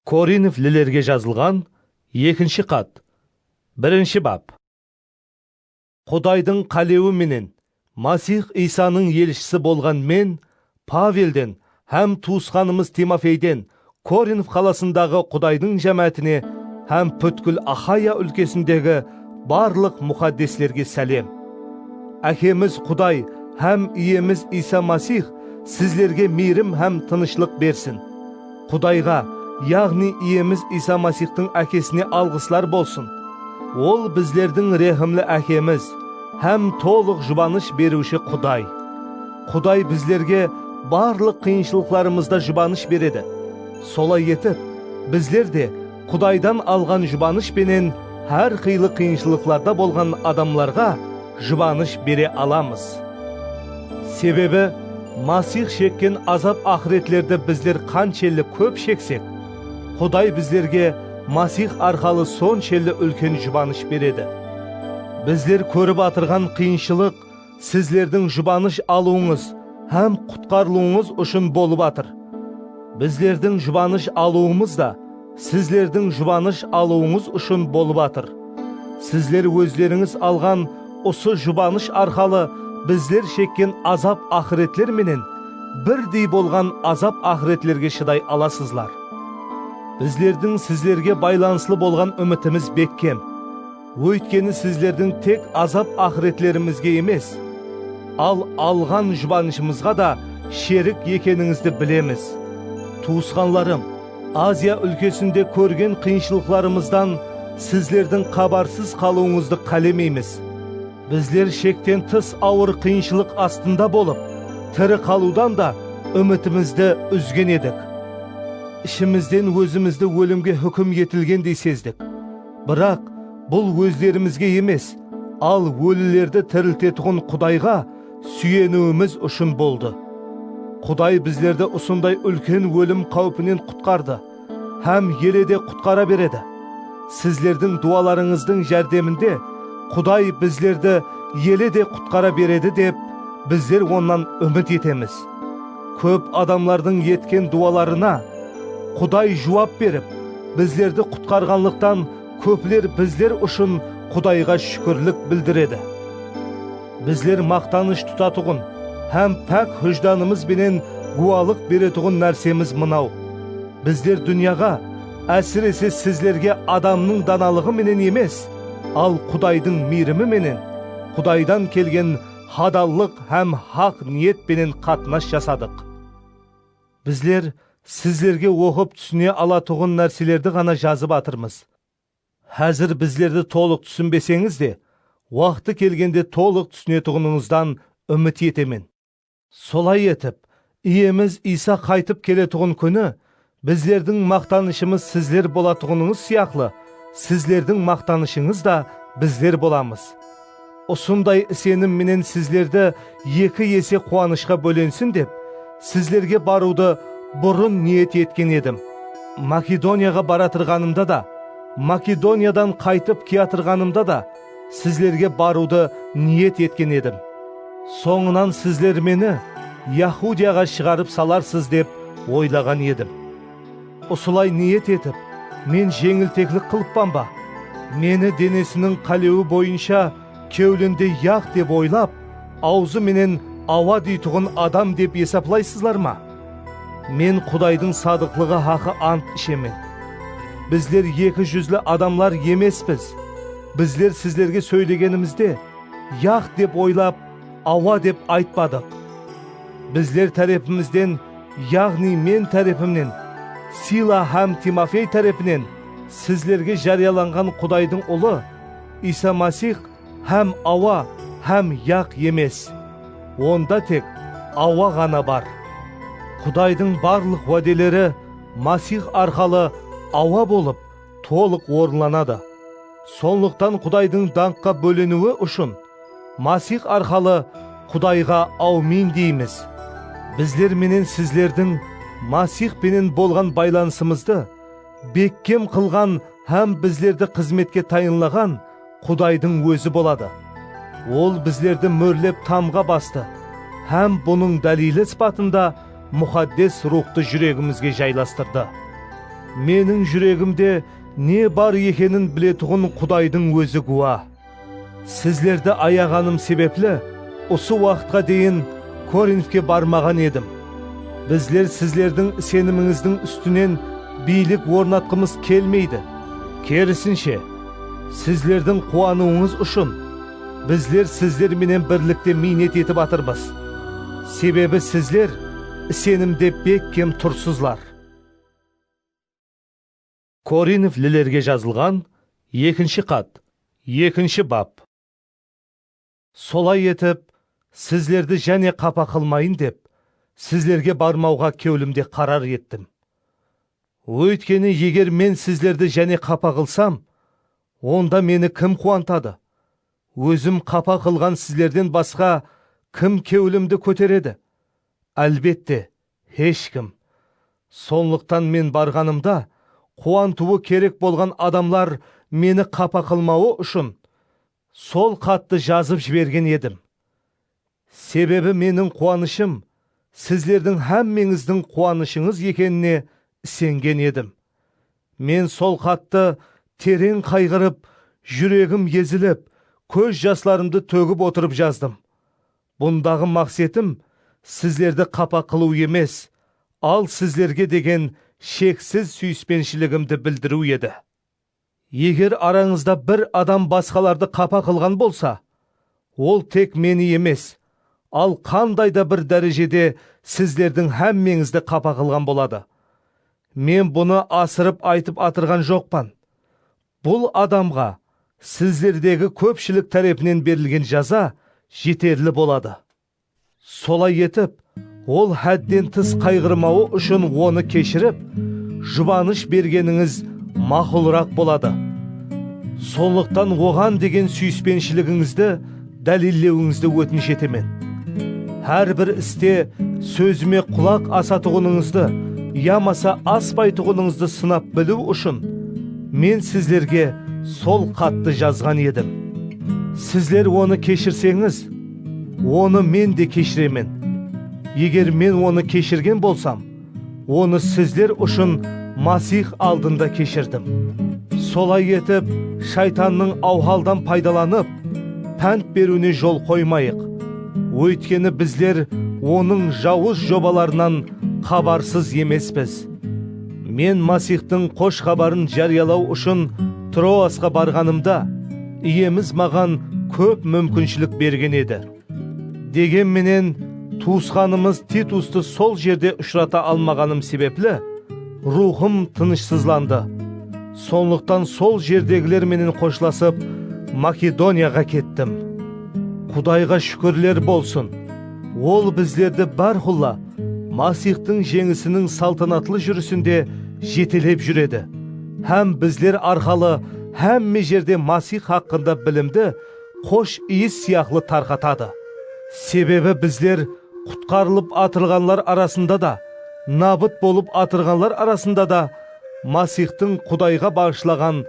Korinf lilerge jazılǵan ekinshi xat, birinshi bap. Qudaydıń qálewi menen Masix Iysanıń elshisi bolǵan men Pavelden hám tuwısqanımız Timofeyden Korinf qalasındaǵı Qudaydıń jámáátine hám pútkil Axaya úlkesindegi barlıq muxaddeslerge sálem. Ákemiz Quday hám Iyemiz Iysa Masix sizlerge miyrim hám tınıshlıq bersin. Qudayǵa, yaǵnıy Iyemiz Iysa Masixtıń Ákesine alǵıslar bolsın! Ol bizlerdiń rehimli Ákemiz hám tolıq jubanısh beriwshi Quday. Quday bizlerge barlıq qıyınshılıqlarımızda jubanısh beredi. Solay etip, bizler de Qudaydan alǵan jubanısh penen hár qıylı qıyınshılıqlarda bolǵan adamlarǵa jubanısh bere alamız. Sebebi, Masix shekken azap-aqıretlerdi bizler qanshelli kóp sheksek, Quday bizlerge Masix arqalı sonshelli úlken jubanısh beredi. Bizler kórip atırǵan qıyınshılıq, Sizlerdiń jubanısh alıwıńız hám qutqarılıwıńız ushın bolıp atır. Bizlerdiń jubanısh alıwımız da sizlerdiń jubanısh alıwıńız ushın bolıp atır. Sizler ózlerińiz alǵan usı jubanısh arqalı bizler shekken azap-aqıretler menen birdey bolǵan azap-aqıretlerge shıday alasızlar. Bizlerdiń sizlerge baylanıslı bolǵan úmitimiz bekkem. Óytkeni sizlerdiń tek azap-aqıretlerimizge emes, al alǵan jubanıshımızǵa da sherik ekenińizdi bilemiz. Tuwısqanlarım, Aziya úlkesinde kórgen qıyınshılıqlarımızdan sizlerdiń xabarsız qalıwıńızdı qálemeymiz. Bizler shekten tıs awır qıyınshılıq astında bolıp, tiri qalıwdan da úmitimizdi úzgen edik. Ishimizden ózimizdi ólimge húkim etilgendey sezdik. Biraq, bul ózlerimizge emes, al ólilerdi tiriltetuǵın Qudayǵa súyeniwimiz ushın boldı. Quday bizlerdi usınday úlken ólim qáwpinen qutqardı hám ele de qutqara beredi. Sizlerdiń duwalarıńızdıń járdeminde Quday bizlerdi ele de qutqara beredi dep, bizler Onnan úmit etemiz. Kóp adamlardıń etken duwalarına Quday juwap berip, bizlerdi qutqarǵanlıqtan kópler bizler ushın Qudayǵa shúkirlik bildiredi. Bizler maqtanısh tutatuǵın hám pák hújdanımız benen gúwalıq beretuǵın nársemiz mınaw, bizler dúnyaǵa, ásirese sizlerge adamnıń danalıǵı menen emes, al Qudaydıń miyrimi menen, Qudaydan kelgen hadallıq hám haq niyet penen qatnas jasadıq. Bizler sizlerge oqıp túsine alatuǵın nárselerdi ǵana jazıp atırmız. Házir bizlerdi tolıq túsinbeseńiz de, waqtı kelgende tolıq túsinetuǵınıńızdan úmit etemen. Solay etip, Iyemiz Iysa qaytıp keletuǵın kúni bizlerdiń maqtanıshımız sizler bolatuǵınıńız sıyaqlı, sizlerdiń maqtanıshıńız da bizler bolamız. Usınday isenim menen sizlerdi eki ese quwanıshqa bólensin dep, sizlerge barıwdı burın niyet etken edim. Makedoniyaǵa baratırǵanımda da, Makedoniyadan qaytıp kiyatırǵanımda da, Sizlerge barıwdı niyet etken edim, sońınan sizler meni Yahudiyaǵa shıǵarıp salarsız dep oylaǵan edim. Usılay niyet etip, men jeńilteklik qılıppan ba? Meni denesiniń qálewi boyınsha kewlinde yaq dep oylap, awzı menen awa deytuǵın adam dep esaplaysızlar ma? Men Qudaydıń sadıqlıǵı haqı ant ishemen, bizler eki júzli adamlar emespiz, bizler sizlerge sóylegenimizde, Yaq dep oylap, Awa dep aytpadıq. Bizler tárepimizden, yaǵnıy men tárepimnen, Sila hám Timofey tárepinen sizlerge járiyalanǵan Qudaydıń Ulı, Iysa Masix, Hám awa hám yaq emes, onda tek awa ǵana bar. Qudaydıń barlıq wádeleri Masix arqalı awa bolıp tolıq orınlanadı. Sonlıqtan Qudaydıń dańqqa bóleniwi ushın Masix arqalı Qudayǵa awmin deymiz. Bizler menen sizlerdiń Masix penen bolǵan baylanısımızdı bekkem qılǵan hám bizlerdi xızmetke tayınlaǵan Qudaydıń Ózi boladı. Ol bizlerdi mórlep tamǵa bastı hám bunıń dálili sıpatında Muxaddes Ruwxtı júregimizge jaylastırdı. Meniń júregimde ne bar ekenin biletuǵın Qudaydıń Ózi gúwa. Sizlerdi ayaǵanım sebepli, usı waqıtqa deyin Korinfke barmaǵan edim. Bizler sizlerdiń isenimińizdiń ústinen biylik ornatqımız kelmeydi, kerisinshe, Sizlerdiń quwanıwıńız ushın bizler sizler menen birlikte miynet etip atırmız, sebebi sizler isenimde bekkem tursızlar. Korinflilerge jazılǵan ekinshi xat, ekinshi bap. Solay etip, sizlerdi jáne qapa qılmayın dep, sizlerge barmawǵa kewlimde qarar ettim. Óytkeni, eger men sizlerdi jáne qapa qılsam, onda meni kim quwantadı? Ózim qapa qılǵan sizlerden basqa kim kewlimdi kóteredi? Álbette, hesh kim. Sonlıqtan men barǵanımda, quwantıwı kerek bolǵan adamlar meni qapa qılmawı ushın, Sol xattı jazıp jibergen edim. Sebebi meniń quwanıshım sizlerdiń hámmeńizdiń quwanıshıńız ekenine isengen edim. Men sol xattı tereń qayǵırıp, júregim ezilip, kóz jaslarımdı tógip otırıp jazdım. Bundaǵı maqsetim sizlerdi qapa qılıw emes, al sizlerge degen sheksiz súyispenshiligimdi bildiriw edi. Eger arańızda bir adam basqalardı qapa qılǵan bolsa, ol tek Meni emes, al qanday da bir dárejede sizlerdiń hámmeńizdi qapa qılǵan boladı. Men bunı asırıp aytıp atırǵan joqpan. Bul adamǵa sizlerdegi kópshilik tárepinen berilgen jaza jeterli boladı. Solay etip, ol hádden tıs qayǵırmawı ushın onı keshirip, jubanısh bergenińiz maqulıraq boladı. Sonlıqtan oǵan degen súyispenshiligıńizdi dálillewińizdi ótinish etemen. Hár bir iste sózime qulaq asatuǵınıńızdı yamasa aspaytuǵınıńızdı sınap biliw ushın men sizlerge sol xattı jazǵan edim. Sizler onı keshirseńiz, Onı Men de keshiremen. Eger Men onı keshirgen bolsam, onı sizler ushın Masix aldında keshirdim. Solay etip, Shaytannıń awhaldan paydalanıp, pánt beriwine jol qoymayıq. Óytkeni bizler onıń jawız jobalarınan xabarsız emespiz. Men Masixtıń Xosh Xabarın járiyalaw ushın Troasqa barǵanımda, Iyemiz maǵan kóp múmkinshilik bergen edi. Degen menen, tuwısqanımız Titustı sol jerde ushırata almaǵanım sebepli, ruwxım tınıshsızlandı. Sonlıqtan sol jerdegiler menen xoshlasıp, Makedoniyaǵa kettim. Qudayǵa shúkirler bolsın, Ol bizlerdi bárqulla Masixtıń Jeńisiniń saltanatlı júrisinde jetelep júredi. Hám bizler arqalı hámme jerde Masix haqqında bilimdi xosh iyis sıyaqlı tarqatadı. Sebebi bizler qutqarılıp atırǵanlar arasında da, nabıt bolıp atırǵanlar arasında da Masixtıń Qudayǵa baǵıshlaǵan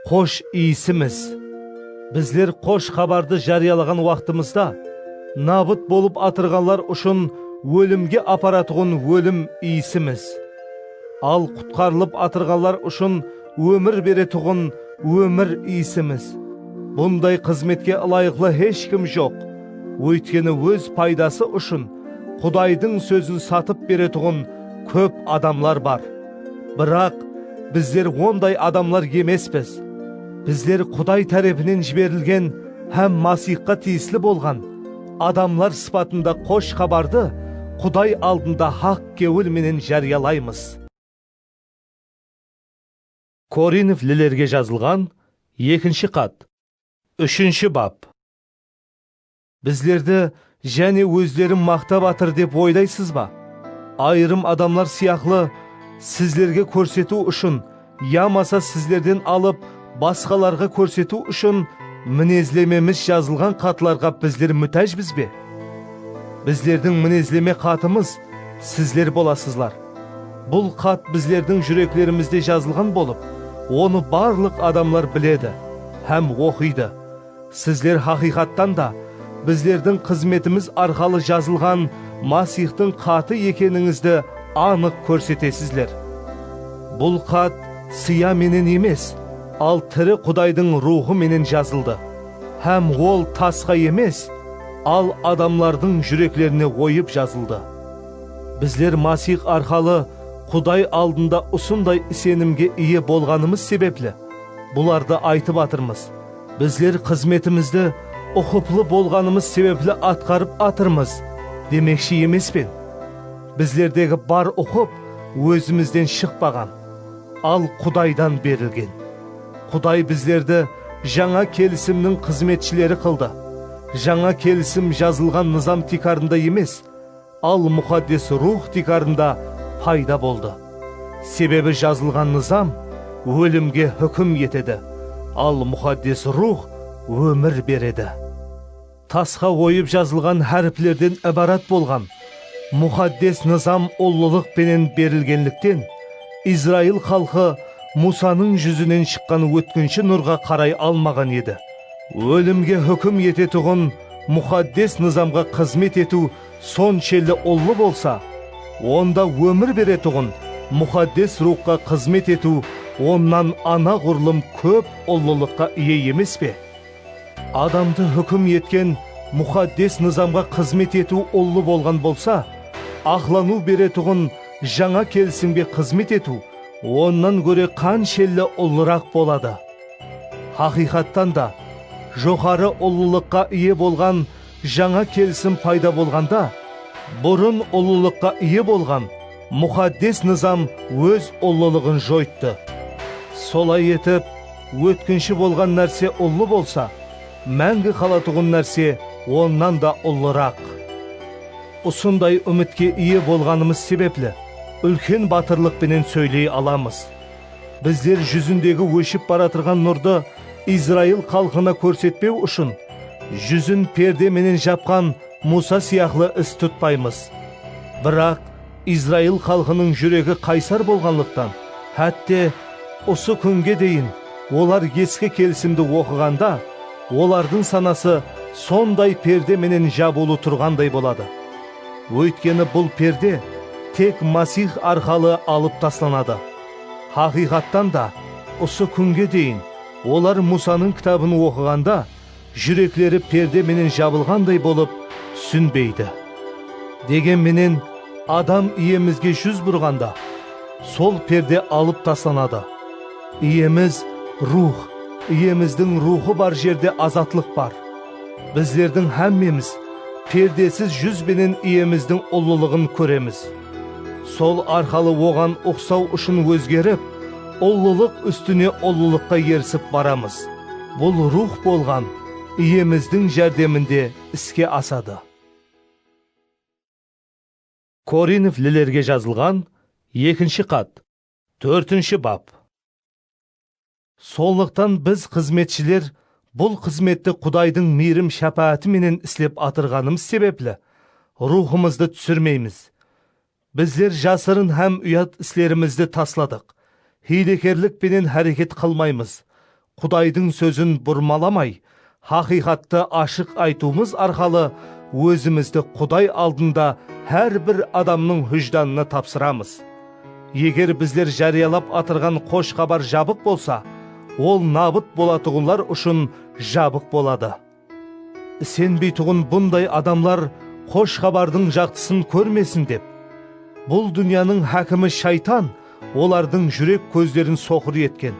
xosh iyisimiz. Bizler Xosh Xabardı járiyalaǵan waqtımızda, nabıt bolıp atırǵanlar ushın ólimge aparatuǵın ólim iyisimiz. Al qutqarılıp atırǵanlar ushın ómir beretuǵın ómir Iyisimiz. Bunday xızmetke ılayıqlı hesh kim joq. Óytkeni óz paydası ushın Qudaydıń sózin satıp beretuǵın kóp adamlar bar. Biraq, bizler onday adamlar emespiz. Bizler Quday tárepinen jiberilgen hám Masixqa tiyisli bolǵan adamlar sıpatında Xosh Xabardı Quday aldında haq Kewil menen járiyalaymız. Korinf lilerge jazılǵan ekinshi xat, úshinshi bap. Bizlerdi jáne ózleri maqtap atır dep oylaysız ba? Ayırım adamlar sıyaqlı sizlerge kórsetiw ushın Yamasa sizlerden alıp basqalarǵa kórsetiw ushın minezlememiz jazılǵan xatlarǵa bizler mútájbiz be? Bizlerdiń minezleme xatımız sizler bolasızlar. Bul xat bizlerdiń júreklerimizde jazılǵan bolıp, onı barlıq adamlar biledi hám oqıydı. Sizler haqıyqattan da bizlerdiń xızmetimiz arqalı jazılǵan Masixtıń xatı ekenińizdi anıq kórsetesizler. Bul xat sıyá menen emes, al tiri Qudaydıń Ruwxı menen jazıldı, hám ol tasqa emes, al adamlardıń júreklerine oyıp jazıldı. Bizler Masix arqalı Quday aldında usınday isenimge iye bolǵanımız sebepli bulardı aytıp atırmız, Bizler xızmetimizdi uqıplı bolǵanımız sebepli atqarıp atırmız demekshi emespen. Bizlerdegi bar uqıp ózimizden shıqpaǵan, al Qudaydan berilgen. Quday bizlerdi Jańa Kelisimniń xızmetshileri qıldı. Jańa Kelisim jazılǵan nızam tiykarında emes, Al Muxaddes Ruwx tiykarında payda boldı. Sebebi jazılǵan nızam ólimge húkim etedi, al Muxaddes Ruwx ómir beredi. Tasqa oyıp jazılǵan háriplerden ibarat bolǵan Muxaddes nızam ullılıq penen berilgenlikten, Izrail xalqı Musanıń júzinen shıqqan ótkinshi nurǵa qaray almaǵan edi. Ólimge húkim etetuǵın Muxaddes nızamǵa xızmet etiw sonshelli ullı bolsa, onda ómir beretuǵın Muxaddes Ruwxqa xızmet etiw onnan anaǵurlım kóp ullılıqqa iye emes pe? Adamdı húkim etken Muxaddes Nızamǵa xızmet etiw ullı bolǵan bolsa, aqlanıw beretuǵın Jańa Kelisimge xızmet etiw onnan góre qanshelli ullıraq boladı! Haqıyqattan da, joqarı ullılıqqa iye bolǵan Jańa kelisim payda bolǵanda, burın ullılıqqa iye bolǵan muxaddes nızam óz ullılıǵın joyttı. Solay etip, ótkinshi bolǵan nárse ullı bolsa, máńgi qalatuǵın nárse onnan da ullıraq. Usınday úmitke iye bolǵanımız sebepli, úlken batırlıq penen sóyley alamız. Bizler júzindegi óship baratırǵan nurdı Izrail xalqına kórsetpew ushın, júzin perde menen japqan Muwsa sıyaqlı is tutpaymız. Biraq, Izrail xalqınıń júregi qaysar bolǵanlıqtan, hátte, usı kúnge deyin olar Eski Kelisimdi oqıǵanda, olardıń sanası sonday perde menen jabıwlı turǵanday boladı. Óytkeni bul perde tek Masix arqalı alıp taslanadı. Haqıyqattan da, usı kúnge deyin olar Musanıń kitabın oqıǵanda júrekleri perde menen jabılǵanday bolıp túsinbeydi. Degen menen, Adam Iyemizge júz burǵanda, sol perde alıp taslanadı. Iyemiz, Ruwx, Iyemizdiń Ruwxı bar jerde azatlıq bar. Bizlerdiń hámmemiz perdesiz júz benen Iyemizdiń ullılıǵın kóremiz. Sol arqalı Oǵan uqsaw ushın ózgerip, ullılıq ústine ullılıqqa erisip baramız. Bul Ruwx bolǵan Iyemizdiń járdeminde iske asadı. Korinflilerge jazılǵan ekinshi xat, tórtinshi bap. Sonlıqtan biz xızmetshiler bul xızmetti Qudaydıń miyrim-shápááti menen islep atırǵanımız sebepli, ruwxımızdı túsirmeymiz. Bizler jasırın hám uyat islerimizdi tasladıq, hiylekerlik penen háreket qılmaymız, Qudaydıń sózin burmalamay, Haqıyqattı ashıq aytıwımız arqalı ózimizdi Quday aldında hár bir adamnıń hújdanına tapsıramız. Eger bizler járiyalap atırǵan Xosh Xabar jabıq bolsa, ol nabıt bolatuǵınlar ushın jabıq boladı. Isenbeytuǵın bunday adamlar Xosh Xabardıń jaqtısın kórmesin dep, bul dúnyanıń hákimi Shaytan, Olardıń júrek kózlerin soqır etken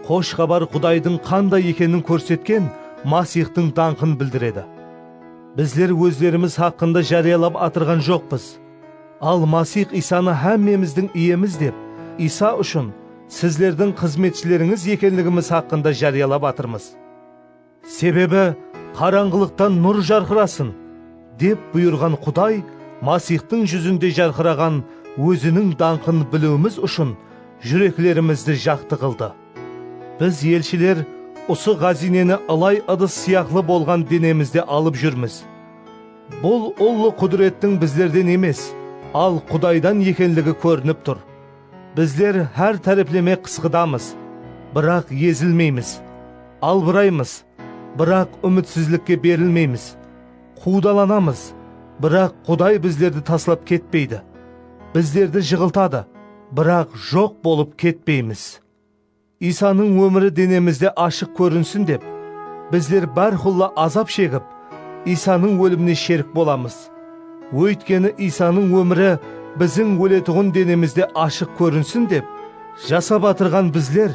Xosh xabar Qudaydıń qanday ekenin kórsetken Masixtıń dańqın bildiredi. Bizler ózlerimiz haqqında járiyalap atırǵan joqpız. Al Masix Iysanı hámmemizdiń Iyemiz dep, Iysa ushın sizlerdiń xızmetshilerińiz ekenligimiz haqqında járiyalap atırmız. Sebebi, qarańǵılıqtan nur jarqırasın, dep buyırǵan Quday Masixtıń júzinde jarqıraǵan Óziniń dańqın biliwimiz ushın júreklerimizdi jaqtı qıldı. Biz elshiler usı ǵáziyneni ılay ıdıs sıyaqlı bolǵan denemizde alıp júrmiz. Bul ullı qúdirettiń bizlerden emes, al Qudaydan ekenligi kórinip tur. Bizler hár tárepleme qısqıdamız, biraq ezilmeymiz, albıraymız, biraq úmitsizlikke berilmeymiz, quwdalanamız, biraq Quday bizlerdi taslap ketpeydi, bizlerdi jıǵıltadı, biraq joq bolıp ketpeymiz. Iysanıń ómiri denemizde ashıq kórinsin dep, bizler bárqulla azap shegip, Iysanıń ólimine sherik bolamız. Óytkeni Iysanıń ómiri biziń óletuǵın denemizde ashıq kórinsin dep, jasap atırǵan bizler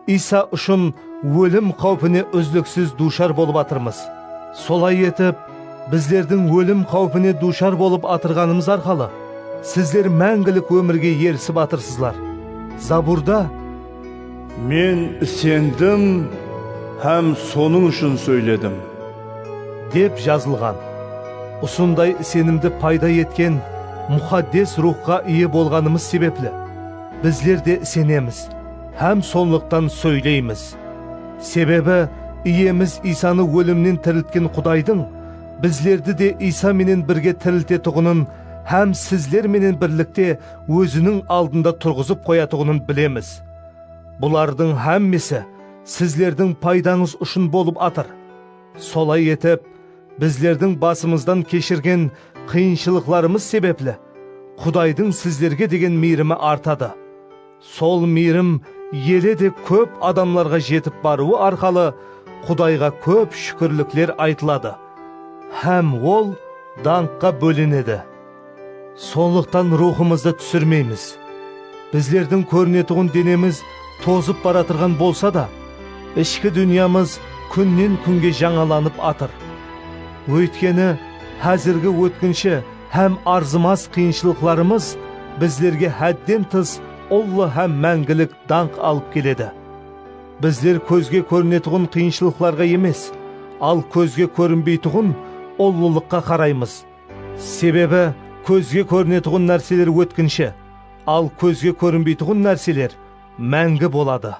Iysa ushın ólim qáwpine úzliksiz duwshar bolıp atırmız. Solay etip, Bizlerdiń ólim qáwpine duwshar bolıp atırǵanımız arqalı sizler máńgilik ómirge erisip atırsızlar. Zaburda. Men isendim hám sonıń ushın sóyledim. Dep jazılǵan. Usınday isenimdi payda etken Muxaddes Ruwxqa iye bolǵanımız sebepli, bizler de isenemiz hám sonlıqtan sóyleymiz. Sebebi, Iyemiz Iysanı ólimnen tiriltken Qudaydıń bizlerdi de Iysa menen birge tiriltetuǵının hám sizler menen birlikte Óziniń aldında turǵızıp qoyatuǵının bilemiz. Bulardıń hámmesi sizlerdiń paydańız ushın bolıp atır. Solay etip, bizlerdiń basımızdan keshirgen qıyınshılıqlarımız sebepli Qudaydıń sizlerge degen miyrimi artadı. Sol miyrim ele de kóp adamlarǵa jetip barıwı arqalı Qudayǵa kóp shúkirlikler aytıladı hám Ol dańqqa bólenedi. Sonlıqtan ruwxımızdı túsirmeymiz. Bizlerdiń kórinetuǵın denemiz tozıp baratırǵan bolsa da, ishki dúnyamız kúnnen-kúnge jańalanıp atır. Óytkeni, házirgi ótkinshi, Hám arzımas qıyınshılıqlarımız bizlerge hádden tıs ullı hám máńgilik dańq alıp keledi. Bizler kózge kórinetuǵın qıyınshılıqlarǵa emes, al kózge kórinbeytuǵın ullılıqqa qaraymız. Sebebi kózge kórinetuǵın nárseler ótkinshi, al kózge kórinbeytuǵın nárseler máńgi boladı.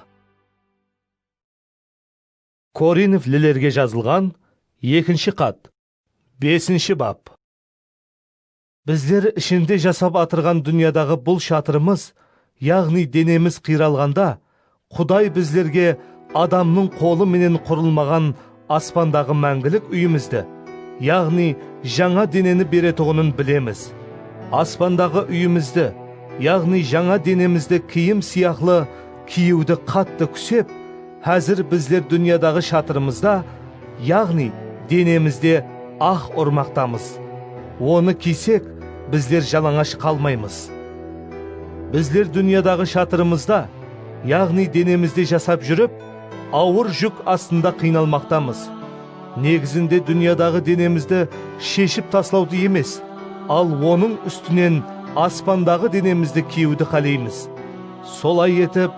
Korinflilerge jazılǵan ekinshi xat. Besinshi bap. Bizler ishinde jasap atırǵan dúnyadaǵı bul shatırımız, yaǵnıy denemiz qıyralǵanda, Quday bizlerge adamnıń qolı menen qurılmaǵan aspandaǵı máńgilik úyimizdi, yaǵnıy jańa deneni beretuǵının bilemiz. Aspandaǵı úyimizdi, yaǵnıy jańa denemizdi kiyim sıyaqlı, Kiyewdi qattı kúsep, házir bizler dúnyadaǵı shatırımızda, yaǵnıy denemizde ax urmaqtamız. Onı kiysek, bizler jalańash qalmaymız. Bizler dúnyadaǵı shatırımızda, yaǵnıy denemizde jasap júrip, awır júk astında qıynalmaqtamız. Negizinde dúnyadaǵı denemizdi sheship taslawdı emes, al onıń ústinen aspandaǵı denemizdi kiyewdi qáleymiz. Solay etip,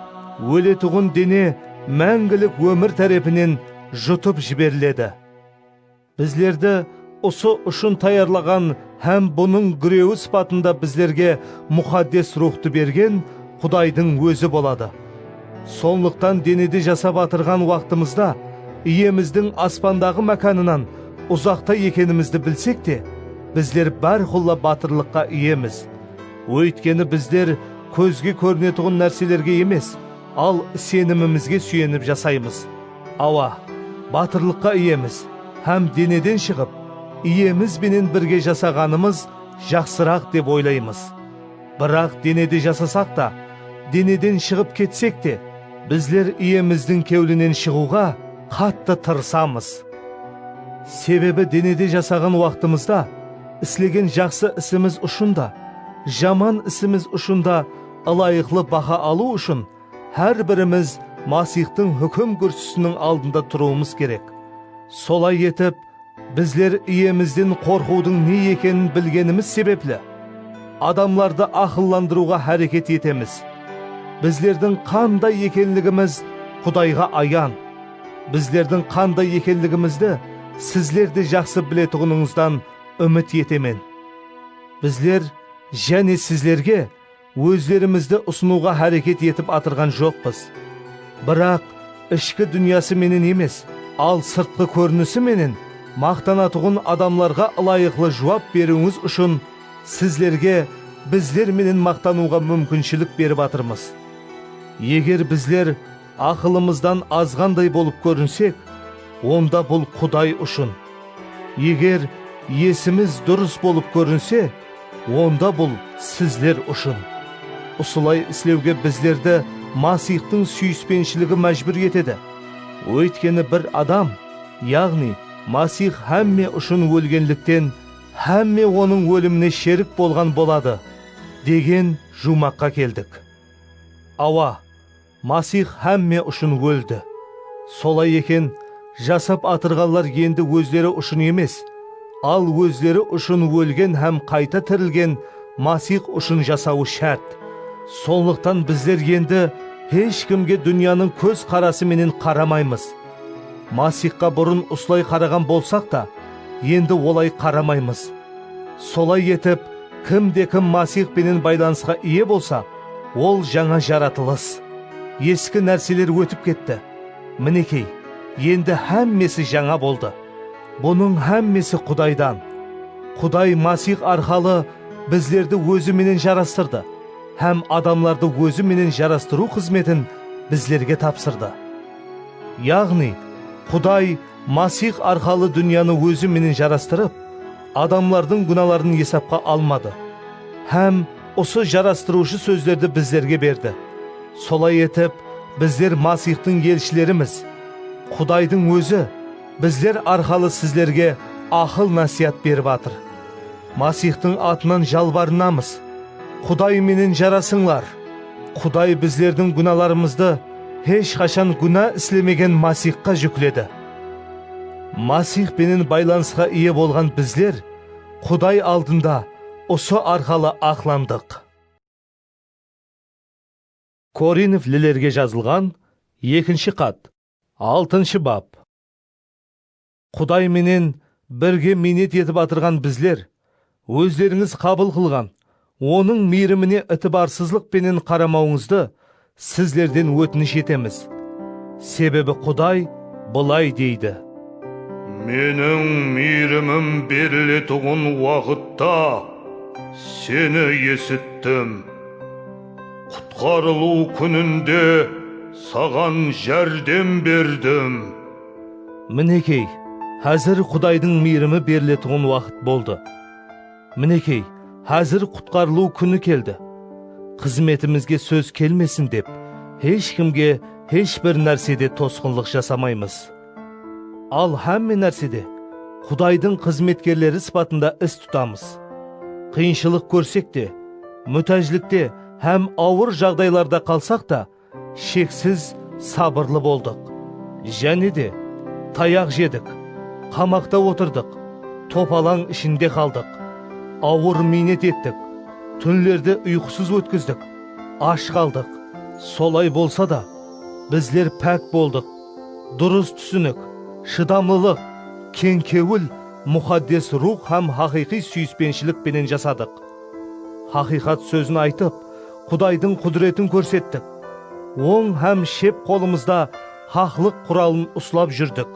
óletuǵın dene máńgilik ómir tárepinen jutıp jiberiledi. Bizlerdi usı ushın tayarlaǵan hám bunıń gúrewi sıpatında bizlerge Muxaddes Ruwxtı bergen Qudaydıń Ózi boladı. Sonlıqtan denede jasap atırǵan waqtımızda Iyemizdiń aspandaǵı mákanınan uzaqta ekenimizdi bilsek te, bizler bárqulla batırlıqqa iyemiz. Óytkeni bizler kózge kórinetuǵın nárselerge emes, al isenimimizge súyenip jasaymız. Awa, batırlıqqa iyemiz hám deneden shıǵıp, Iyemiz benen birge jasaǵanımız jaqsıraq dep oylaymız. Biraq denede jasasaq ta, deneden shıǵıp ketsek te, bizler Iyemizdiń kewlinen shıǵıwǵa qattı tırısamız. Sebebi denede jasaǵan waqtımızda, Islegen jaqsı isimiz ushın da, jaman isimiz ushın da ılayıqlı baha alıw ushın hár birimiz Masixtıń húkim gúrsisiniń aldında turıwımız kerek. Solay etip, bizler Iyemizden qorqıwdıń ne ekenin bilgenimiz sebepli, adamlardı aqıllandırıwǵa háreket etemiz. Bizlerdiń qanday ekenligimiz Qudayǵa ayan. Bizlerdiń qanday ekenligimizdi sizler de jaqsı biletuǵınıńızdan úmit etemen. Bizler jáne sizlerge ózlerimizdi usınıwǵa háreket etip atırǵan joqpız. Biraq, ishki dúnyası menen emes, al sırtqı kórinisi menen maqtanatuǵın adamlarǵa ılayıqlı juwap beriwińiz ushın sizlerge bizler menen maqtanıwǵa múmkinshilik berip atırmız. Eger bizler Aqılımızdan azǵanday bolıp kórinsek, onda bul Quday ushın. Eger esimiz durıs bolıp kórinse, onda bul sizler ushın. Usılay islewge bizlerdi Masixtıń súyispenshiligı májbúr etedi. Óytkeni bir adam, yaǵnıy Masix hámme ushın ólgenlikten, hámme onıń ólimine sherik bolǵan boladı, degen juwmaqqa keldik. Awa! Masix hámme ushın óldi. Solay eken, jasap atırǵanlar endi ózleri ushın emes, al ózleri ushın ólgen hám qayta tirilgen Masix ushın jasawı shárt. Sonlıqtan bizler endi hesh kimge dúnyanıń kóz qarası menen qaramaymız. Masixqa burın usılay qaraǵan bolsaq ta, endi olay qaramaymız. Solay etip, kim de kim Masix penen baylanısqa iye bolsa, Ol jańa jaratılıs. Eski nárseler ótip ketti. Minekey, endi hámmesi jańa boldı. Bunıń hámmesi Qudaydan. Quday Masix arqalı bizlerdi Ózi menen jarastırdı hám adamlardı Ózi menen jarastırıw xızmetin bizlerge tapsırdı. Yaǵnıy, Quday Masix arqalı dúnyanı Ózi menen jarastırıp, adamlardıń gúnaların esapqa almadı hám usı jarastırıwshı sózlerdi bizlerge berdi. Solay etip, bizler Masixtıń elshilerimiz. Qudaydıń Ózi bizler arqalı sizlerge aqıl-násiyat berip atır. Masixtıń atınan jalbarınamız, Quday menen jarasıńlar! Quday bizlerdiń gúnalarımızdı, Hesh qashan gúna islemegen Masixqa júkledi. Masix penen baylanısqa iye bolǵan bizler Quday aldında usı arqalı aqlandıq. Korinflilerge jazılǵan ekinshi xat, altınshı bap. Quday menen birge miynet etip atırǵan bizler, ózlerińiz qabıl qılǵan Onıń miyrimine itibarsızlıq penen qaramawıńızdı sizlerden ótinish etemiz. Sebebi Quday bılay deydi. Meniń miyrimim beriletuǵın waqıtta seni esittim. Qutqarılıw kúninde saǵan járdem berdim. Minekey, házir Qudaydıń miyrimi beriletuǵın waqıt boldı. Minekey, házir qutqarılıw kúni keldi. Xızmetimizge sóz kelmesin dep, hesh kimge hesh bir nársede tosqınlıq jasamaymız. Al, hámme nársede Qudaydıń xızmetkerleri sıpatında is tutamız. Qıyınshılıq kórsek te, mútájlikte hám awır jaǵdaylarda qalsaq ta, Sheksiz sabırlı boldıq, jáne de tayaq jedik, qamaqta otırdıq, topalań ishinde qaldıq, awır miynet ettik, túnlerdi uyqısız ótkizdik, ash qaldıq. Solay bolsa da, bizler pák boldıq. Durıs túsinik, shıdamlılıq, keń kewil, muxaddes ruwx hám haqıyqıy súyispenshilik penen jasadıq. Haqıyqat sózin aytıp, Qudaydıń qúdiretin kórsettik. Oń hám shep qolımızda haqlıq quralın uslap júrdik.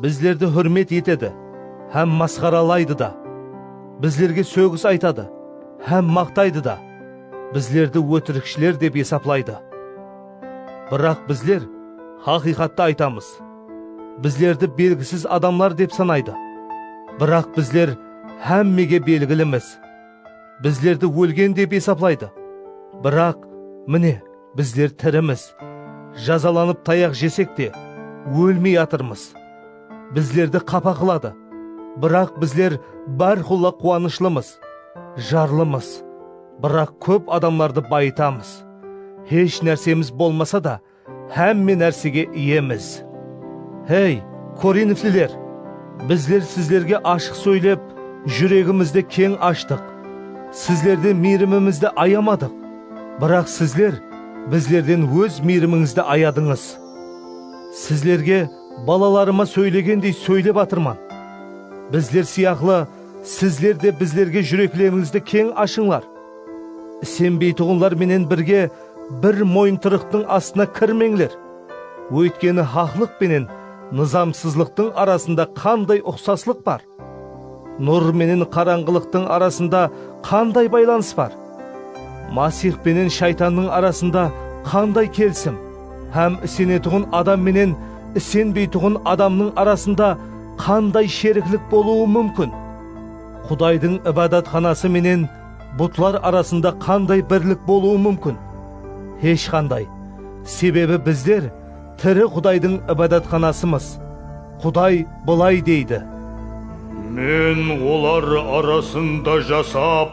Bizlerdi húrmet etedi hám masqaralaydı da. Bizlerge sógis aytadı hám maqtaydı da. Bizlerdi ótirikshiler dep esaplaydı. Biraq bizler haqıyqattı aytamız. Bizlerdi belgisiz adamlar dep sanaydı. Biraq bizler hámmege belgilimiz. bizlerdi ólgen dep esaplaydı. Biraq, mine, bizler tirimiz. Jazalanıp tayaq jesek te, ólmey atırmız. Bizlerdi qapa qıladı, biraq bizler bárqulla quwanıshlımız, jarlımız. Biraq kóp adamlardı bayıtamız. Hesh nársemiz bolmasa da, Hámme nársege iyemiz. Hey, Korinfliler! Bizler sizlerge ashıq sóylep, júregimizdi keń ashtıq. Sizlerden miyrimimizdi ayamadıq. Biraq sizler bizlerden óz miyrimińizdi ayadıńız. Sizlerge balalarıma sóylegendey sóylep atırman. Bizler sıyaqlı sizler de bizlerge júreklerińizdi keń ashıńlar. Isenbeytuǵınlar menen birge bir moyıntırıqtıń astına kirmeńler. Óytkeni haqlıq penen nızamsızlıqtıń arasında qanday uqsaslıq bar? Nur menen qarańǵılıqtıń arasında qanday baylanıs bar? Masix penen Shaytannıń arasında qanday kelisim hám isenetuǵın adam menen isenbeytuǵın adamnıń arasında qanday sheriklik bolıwı múmkin? Qudaydıń Ibadatxanası menen Butlar arasında qanday birlik bolıwı múmkin? Hesh qanday! Sebebi bizler tiri Qudaydıń ibadatxanasımız. Quday bılay deydi. Men olar arasında jasap,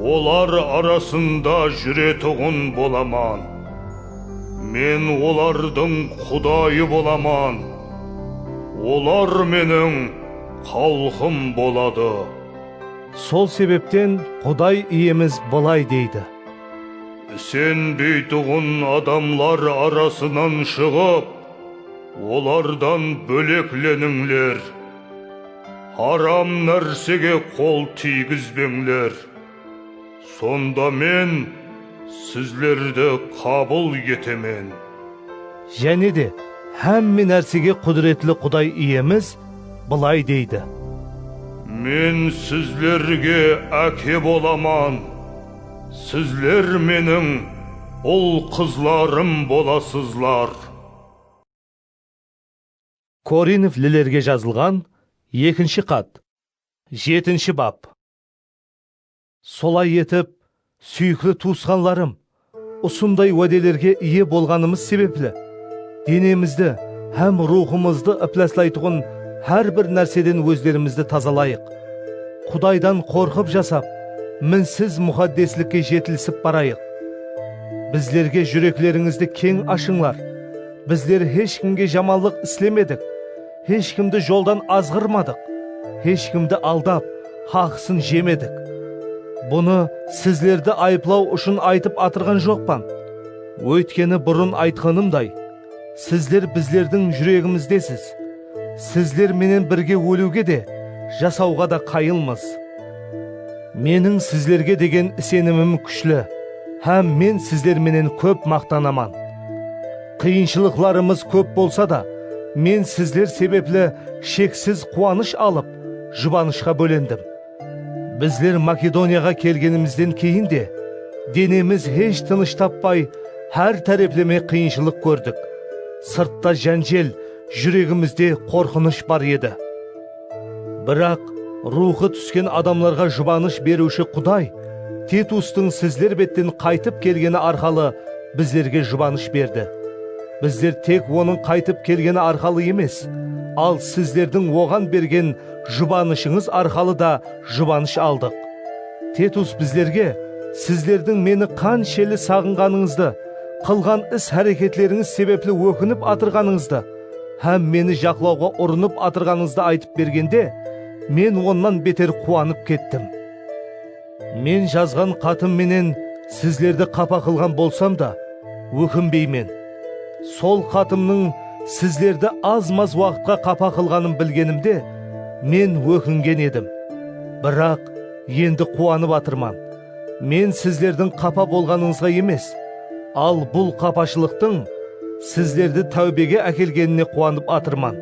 olar arasında júretuǵın bolaman. Men olardıń Qudayı bolaman, olar Meniń xalqım boladı. Sol sebepten Quday Iyemiz bılay deydi. Sen biytuǵın adamlar arasınan shıǵıp, olardan bóleklenińler. Haram nársege qol tiygizbeńler. Sonda Men sizlerdi qabıl etemen. Jáne de, hámme nársege qúdiretli Quday Iyemiz bılay deydi. Men sizlerge Áke bolaman, sizler Meniń ul-qızlarım bolasızlar. Korinflilerge jazılǵan ekinshi xat, jetinshi bap. Solay etip, súyikli tuwısqanlarım, usınday wádelerge iye bolǵanımız sebepli, denemizdi hám ruwxımızdı ıplaslaytuǵın hár bir nárseden wózlerimizdi tazalayıq. Qudaydan qorqıp jasap, minsiz muxaddeslikke jetilisip barayıq. Bizlerge júreklerińizdi keń ashıńlar. Bizler hesh kimge jamanlıq islemedik. Hesh kimdi joldan azǵırmadıq, hesh kimdi aldap, haqısın jemedik. Bunı sizlerdi ayıplaw ushın aytıp atırǵan joqpan. Óytkeni burın aytqanımday, sizler bizlerdiń júregimizdesiz. Sizler menen birge óliwge de, jasawǵa da qayılmız. Meniń sizlerge degen isenimim kúshli hám men sizler menen kóp maqtanaman. Qıyınshılıqlarımız kóp bolsa da, men sizler sebepli sheksiz quwanısh alıp, jubanıshqa bólendim. Bizler Makedoniyaǵa kelgenimizden keyin de, denemiz hesh tınısh tappay, hár tárepleme qıyınshılıq kórdik. Sırtta jánjel, júregimizde qorqınısh bar edi. Biraq, ruwxı túsken adamlarǵa jubanısh beriwshi Quday Titustıń sizler betten qaytıp kelgeni arqalı bizlerge jubanısh berdi. Bizler tek onıń qaytıp kelgeni arqalı emes, al sizlerdiń oǵan bergen jubanıshıńız arqalı da jubanısh aldıq. Titus bizlerge sizlerdiń meni qansheli saǵınǵanıńızdı, qılǵan is-háreketlerińiz sebepli ókinip atırǵanıńızdı, hám meni jaqlawǵa urınıp atırǵanıńızdı aytıp bergende, men onnan beter quwanıp kettim. Men jazǵan xatım menen sizlerdi qapa qılǵan bolsam da, ókinbeymen. Sol xatımnıń sizlerdi az-maz waqıtqa qapa qılǵanın bilgenimde, men ókingen edim. Biraq, endi quwanıp atırman. Men sizlerdiń qapa bolǵanıńızǵa emes, al bul qapashılıqtıń sizlerdi táwbege ákelgenine quwanıp atırman.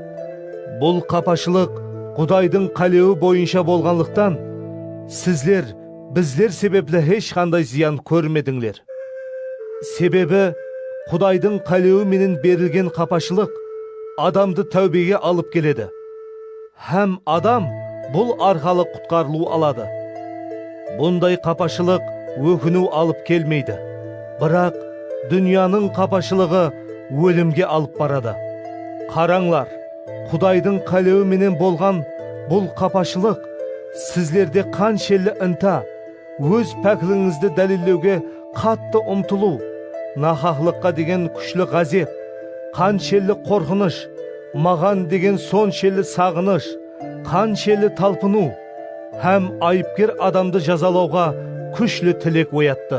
Bul qapashılıq Qudaydıń qálewi boyınsha bolǵanlıqtan, sizler bizler sebepli hesh qanday zıyan kórmedińler. Sebebi Qudaydıń qálewi menen berilgen qapashılıq adamdı táwbege alıp keledi. Hám adam bul arqalı qutqarılıw aladı. Bunday qapashılıq ókiniw alıp kelmeydi, biraq dúnyanıń qapashılıǵı ólimge alıp baradı. Qarańlar, Qudaydıń qálewi menen bolǵan bul qapashılıq sizlerde qanshelli inta, Óz páklińizdi dálillewge qattı umtılıw, nahaqlıqqa degen kúshli ǵázep, qanshelli qorqınısh, maǵan degen sonshelli saǵınısh, qanshelli talpınıw hám ayıpker adamdı jazalawǵa kúshli tilek oyattı.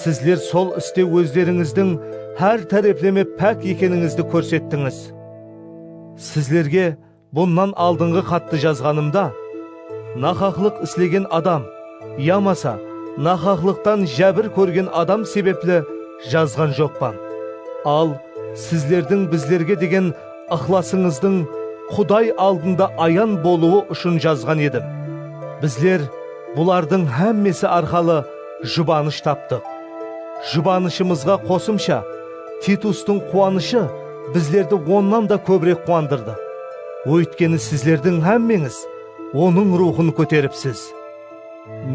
Sizler sol iste ózlerińizdiń hár tárepleme pák ekenińizdi kórsettińiz. Sizlerge Bunnan aldınǵı xattı jazǵanımda, nahaqlıq islegen adam yamasa nahaqlıqtan jábir kórgen adam sebepli jazǵan joqpan. Al, sizlerdiń bizlerge degen ıqlasıńızdıń Quday aldında ayan bolıwı ushın jazǵan edim. Bizler bulardıń hámmesi arqalı jubanısh taptıq. Jubanıshımızǵa qosımsha, Titustıń quwanıshı bizlerdi onnan da kóbirek quwandırdı, óytkeni sizlerdiń hámmeńiz onıń ruwxın kóteripsiz.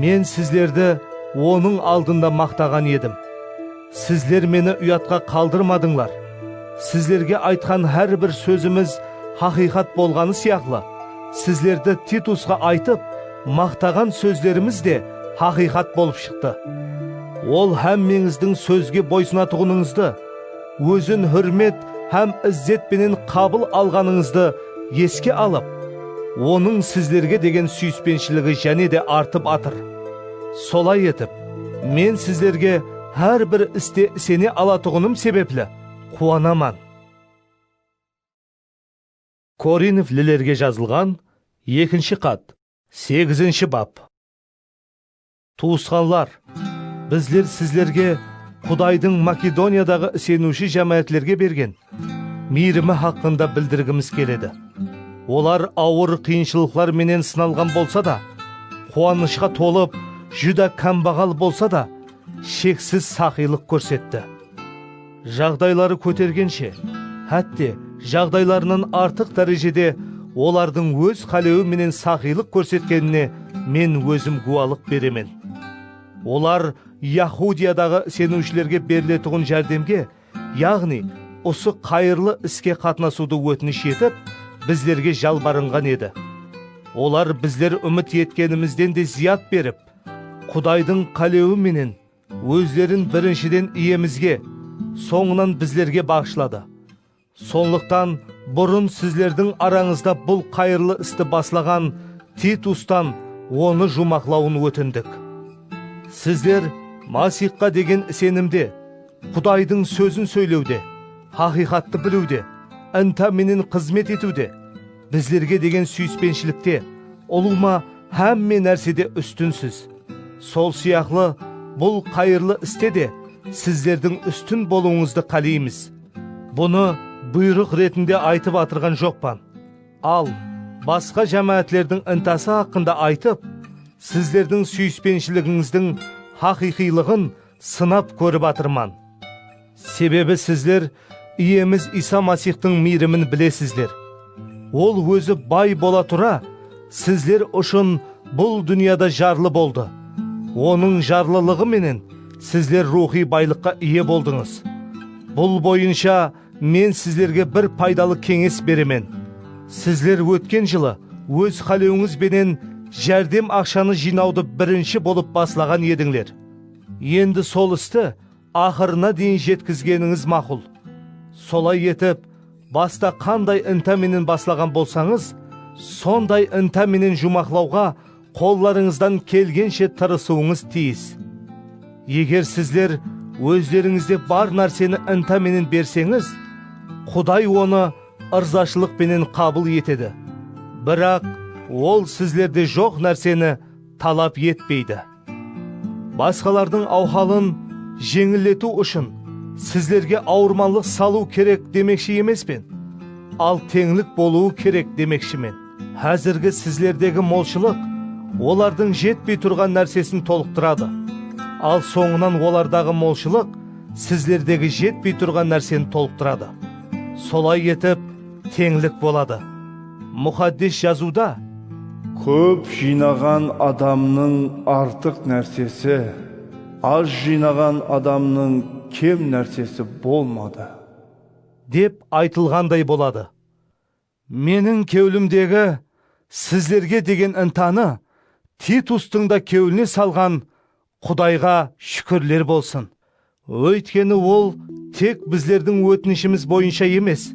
Men sizlerdi onıń aldında maqtaǵan edim. Sizler meni uyatqa qaldırmadıńlar. Sizlerge aytqan hár bir sózimiz haqıyqat bolǵanı sıyaqlı, sizlerdi Titusqa aytıp, Maqtaǵan sózlerimiz de haqıyqat bolıp shıqtı. Ol hámmeńizdiń sózge boysınatuǵınıńızdı, ózin húrmet hám izzet penen qabıl alǵanıńızdı eske alıp, Onıń sizlerge degen súyispenshiligi jáne de artıp atır. Solay etip, men sizlerge hár bir iste isene alatuǵınım sebepli quwanaman. Korinflilerge jazılǵan ekinshi xat. Segizinshi bap. Tuwısqanlar, bizler sizlerge Qudaydıń Makedoniyadaǵı iseniwshi jámáátlerge bergen miyrimi haqqında bildirgimiz keledi. Olar awır qıyınshılıqlar menen sınalǵan bolsa da, quwanıshqa tolıp, júdá kámbaǵal bolsa da, sheksiz saqıylıq kórsetti. Jaǵdayları kótergenshe, hátte, jaǵdaylarınan artıq dárejede olardıń óz qálewi menen saxıylıq kórsetkenine men ózim gúwalıq beremen. Olar Yahudiyadaǵı iseniwshilerge beriletuǵın járdemge, yaǵnıy, usı qayırlı iske qatnasıwdı ótinish etip, bizlerge jalbarınǵan edi. Olar bizler úmit etkenimizden de zıyat berip, Qudaydıń qálewi menen, Ózlerin birinshiden Iyemizge, sońınan bizlerge baǵıshladı. Sonlıqtan, burın sizlerdiń arańızda bul qayırlı isti baslaǵan Titustan onı juwmaqlawın ótindik. Sizler Masixqa degen isenimde, Qudaydıń sózin sóylewde, haqıyqattı biliwde, inta menen xızmet etiwde, Bizlerge degen súyispenshilikte ulıwma hámme nársede ústinsiz. Sol sıyaqlı bul qayırlı iste de sizlerdiń ústin bolıwıńızdı qáleymiz. Bunı buyrıq retinde aytıp atırǵan joqpan. Al, basqa jámáátlerdiń intası haqqında aytıp, sizlerdiń súyispenshiligıńızdıń haqıyqıylıǵın sınap kórip atırman. Sebebi sizler Iyemiz Iysa Masixtıń miyrimin bilesizler. Ol Ózi bay bola tura, sizler ushın bul dúnyada jarlı boldı. Onıń jarlılıǵı menen sizler ruwxıy baylıqqa iye boldıńız. Bul boyınsha men sizlerge bir paydalı keńes beremen. Sizler ótken jılı óz qálewińiz benen járdem aqshanı jıynawdı birinshi bolıp baslaǵan edińler. Endi sol isti Aqırına deyin jetkizgenińiz maqul. Solay etip, basta qanday inta menen baslaǵan bolsańız, sonday inta menen juwmaqlawǵa qollarıńızdan kelgenshe tırısıwıńız tiyis. Eger sizler ózlerińizde bar nárseni inta menen berseńiz, Quday onı ırzashılıq penen qabıl etedi, biraq Ol sizlerde joq nárseni talap etpeydi. Basqalardıń awhalın jeńilletiw ushın sizlerge awırmanlıq salıw kerek demekshi emespen, al teńlik bolıwı kerek demekshimen. Házirgi sizlerdegi molshılıq olardıń jetpey turǵan nársesin tolıqtıradı, al sońınan olardaǵı molshılıq sizlerdegi jetpey turǵan nárseni tolıqtıradı. Solay etip, teńlik boladı. Muxaddes Jazıwda, Kóp jıynaǵan adamnıń artıq nársesi, az jıynaǵan adamnıń kem nársesi bolmadı. Dep aytılǵanday boladı. Meniń kewlimdegi sizlerge degen intanı Titustıń da kewline salǵan Qudayǵa shúkirler bolsın, óytkeni Ol tek bizlerdiń ótinishimiz boyınsha emes,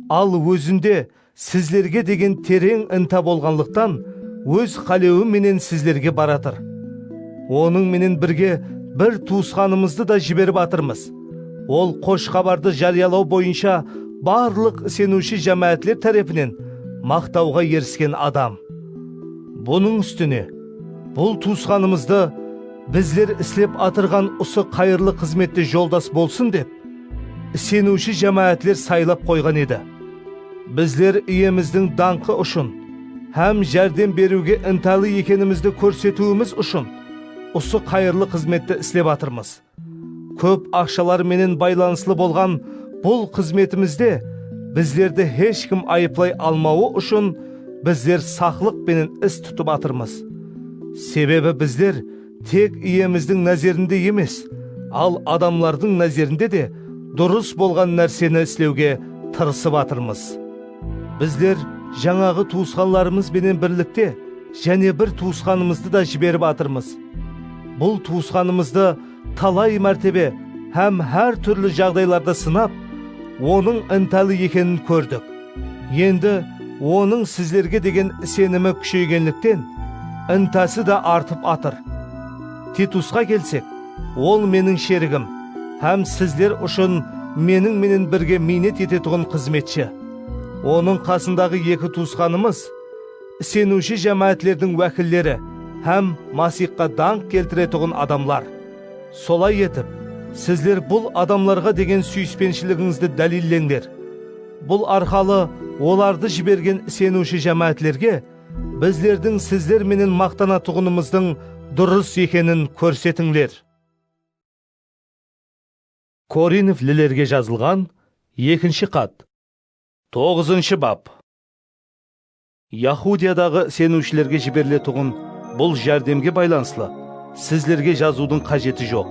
al Ózinde sizlerge degen tereń inta bolǵanlıqtan Óz qálewi menen sizlerge baratır. Onıń menen birge bir tuwısqanımızdı da jiberip atırmız, ol Xosh Xabardı járiyalaw boyınsha barlıq iseniwshi jámáátler tárepinen maqtawǵa erisken adam. Bunıń ústine, Bul tuwısqanımızdı bizler islep atırǵan usı qayırlı xızmette joldas bolsın dep, iseniwshi jámáátler saylap qoyǵan edi. Bizler Iyemizdiń dańqı ushın hám járdem beriwge intalı ekenimizdi kórsetiwimiz ushın usı qayırlı xızmetti islep atırmız. Kóp aqshalar menen baylanıslı bolǵan bul xızmetimizde bizlerdi hesh kim ayıplay almawı ushın bizler saqlıq penen is tutıp atırmız. Sebebi bizler tek Iyemizdiń názerinde emes, al adamlardıń názerinde de durıs bolǵan nárseni islewge tırısıp atırmız. Bizler jańaǵı tuwısqanlarımız benen birlikte jáne bir tuwısqanımızdı da jiberip atırmız. Bul tuwısqanımızdı talay mártebe hám hár túrli jaǵdaylarda sınap, onıń ıntalı ekenin kórdik. Endi onıń sizlerge degen isenimi kúsheygenlikten, ıntası da artıp atır. Titusqa kelsek, ol meniń sherigim hám sizler ushın meniń menen birge miynet etetuǵın xızmetshi. Onıń qasındaǵı eki tuwısqanımız, iseniwshi jámáátlerdiń wákilleri hám Masixqa dańq keltiretuǵın adamlar. Solay etip, sizler bul adamlarǵa degen súyispenshiligizdi dálilleńler. Bul arqalı olardı jibergen iseniwshi jámáátlerge bizlerdiń sizler menen maqtanatuǵınımızdıń durıs ekenin kórsetińler. Korinflilerge jazılǵan ekinshi xat. Toǵızınshı bap. Yahudiyadaǵı iseniwshilerge jiberiletuǵın bul járdemge baylanıslı sizlerge jazıwdıń qájeti joq,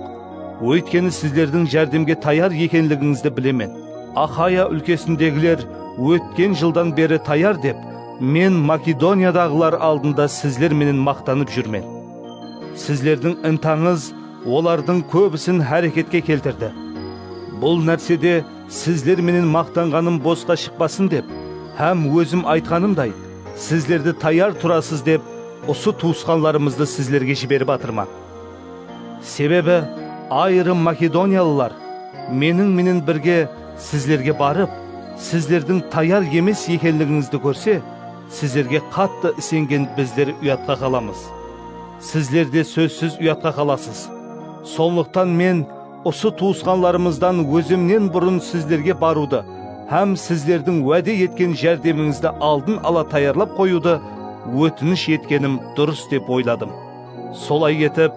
óytkeni sizlerdiń járdemge tayar ekenligińizdi bilemen. Axaya úlkesindegiler ótken jıldan beri tayar dep, men Makedoniyadaǵılar aldında sizler menen maqtanıp júrmen. Sizlerdiń intańız olardıń kóbisin háreketke keltirdi. Bul nársede Sizler menen maqtanǵanım bosqa shıqpasın dep hám ózim aytqanımday, sizlerdi tayar turasız dep usı tuwısqanlarımızdı sizlerge jiberip atırman. Sebebi ayırım makedoniyalılar meniń menen birge sizlerge barıp, sizlerdiń tayar emes ekenligińizdi kórse, sizlerge qattı isengen bizler uyatqa qalamız. Sizler de sózsiz uyatqa qalasız. Sonlıqtan men, Usı tuwısqanlarımızdan ózimnen burın sizlerge barıwdı hám sizlerdiń wáde etken járdemińizdi aldın ala tayarlap qoyıwdı ótinish etkenim durıs dep oyladım. Solay etip,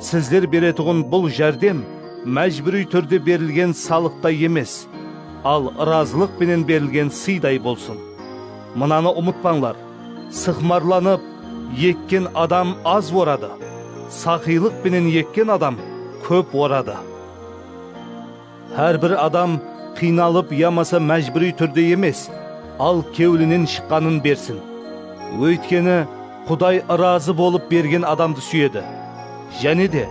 sizler beretuǵın bul járdem májbúriy túrde berilgen salıqtay emes, al ırazılıq penen berilgen sıyday bolsın. Mınanı umıtpańlar! Sıqmarlanıp ekken adam az oradı, saqıylıq penen ekken adam kóp oradı. Hár bir adam qıynalıp yamasa májbúriy túrde emes, al kewlinen shıqqanın bersin. Óytkeni, Quday ırazı bolıp bergen adamdı súyedi. Jáne de,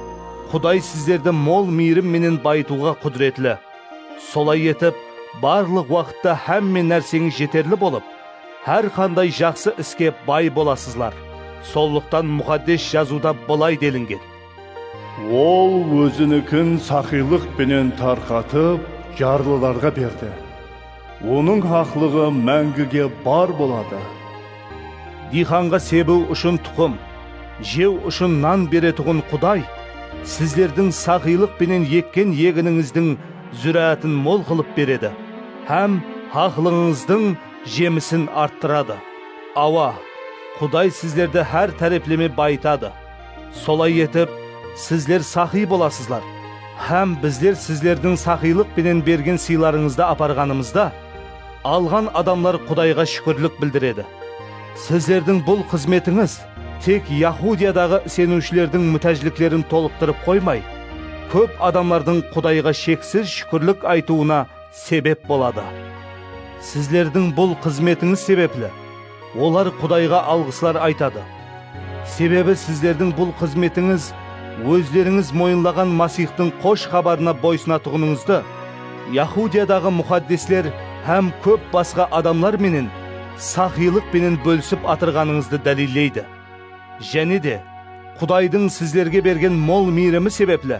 Quday sizlerdi mol miyrim menen bayıtıwǵa qúdiretli. Solay etip, barlıq waqıtta hámme nárseńiz jeterli bolıp, Hár qanday jaqsı iske bay bolasızlar, sonlıqtan Muxaddes Jazıwda bılay delingen. Ol Ózinikin saxıylıq penen tarqatıp, jarlılarǵa berdi, Onıń haqlıǵı máńgige bar boladı. Diyxanǵa sebiw ushın tuqım, jew ushın nan beretuǵın Quday sizlerdiń saxıylıq penen ekken eginińizdiń zúráátin mol qılıp beredi hám haqlıǵıńızdıń Jemisin arttıradı. Awa, Quday sizlerdi hár tárepleme bayıtadı. Solay etip, sizler saqıy bolasızlar. Hám bizler sizlerdiń saqıylıq penen bergen sıylarıńızdı aparǵanımızda, alǵan adamlar Qudayǵa shúkirlik bildiredi. Sizlerdiń bul xızmetińiz tek Yahudiyadaǵı iseniwshilerdiń mútájliklerin tolıqtırıp qoymay, kóp adamlardıń Qudayǵa sheksiz shúkirlik aytıwına sebep boladı. Sizlerdiń bul xızmetińiz sebepli olar Qudayǵa alǵıslar aytadı. Sebebi sizlerdiń bul xızmetińiz ózlerińiz moyınlaǵan Masixtıń Xosh Xabarına boysınatuǵınıńızdı Yahudiyadaǵı muxaddesler hám kóp basqa adamlar menen saxıylıq penen bólisip atırǵanıńızdı dálilleydi. Jáne de, Qudaydıń sizlerge bergen mol miyrimi sebepli,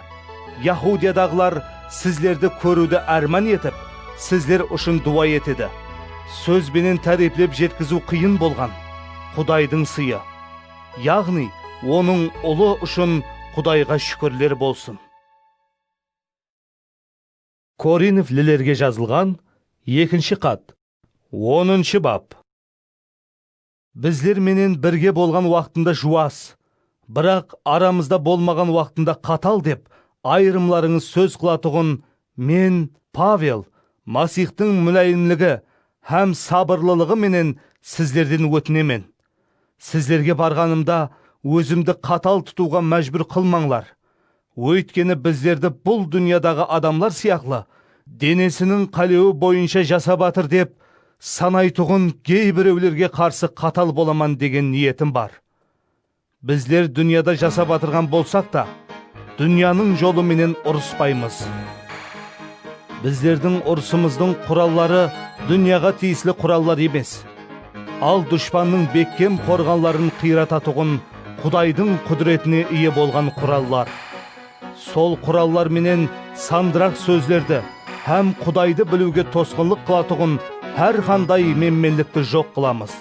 Yahudiyadaǵılar sizlerdi kóriwdi árman etip, sizler ushın duwa etedi. Sóz benen táriyplep jetkiziw qıyın bolǵan Qudaydıń sıyı, yaǵnıy Onıń ulı ushın Qudayǵa shúkirler bolsın! Korinflilerge jazılǵan ekinshi xat, onınshı bap. Bizler menen birge bolǵan waqtında juwas, biraq aramızda bolmaǵan waqtında qatal dep ayırımlarıńız sóz qılatuǵın men, Pavel, Masixtıń múláyimligi hám sabırlılıǵı menen sizlerden ótinemen. Sizlerge barǵanımda ózimdi qatal tutıwǵa májbúr qılmańlar. Óytkeni bizlerdi bul dúnyadaǵı adamlar sıyaqlı denesiniń qálewi boyınsha jasap atır dep sanaytuǵın geybirewlerge qarsı qatal bolaman degen niyetim bar. Bizler dúnyada jasap atırǵan bolsaq ta, dúnyanıń jolı menen urıspaymız. Bizlerdiń urısımızdıń quralları dúnyaǵa tiyisli qurallar emes. Al dushpannıń bekkem qorǵanların qıyrata-tuǵın Qudaydıń qúdiretine iye bolǵan qurallar. Sol qurallar menen sandıraq sózlerdi hám Qudaydı biliwge tosqınlıq qılatuǵın hár qanday menmenlikti joq qılamız.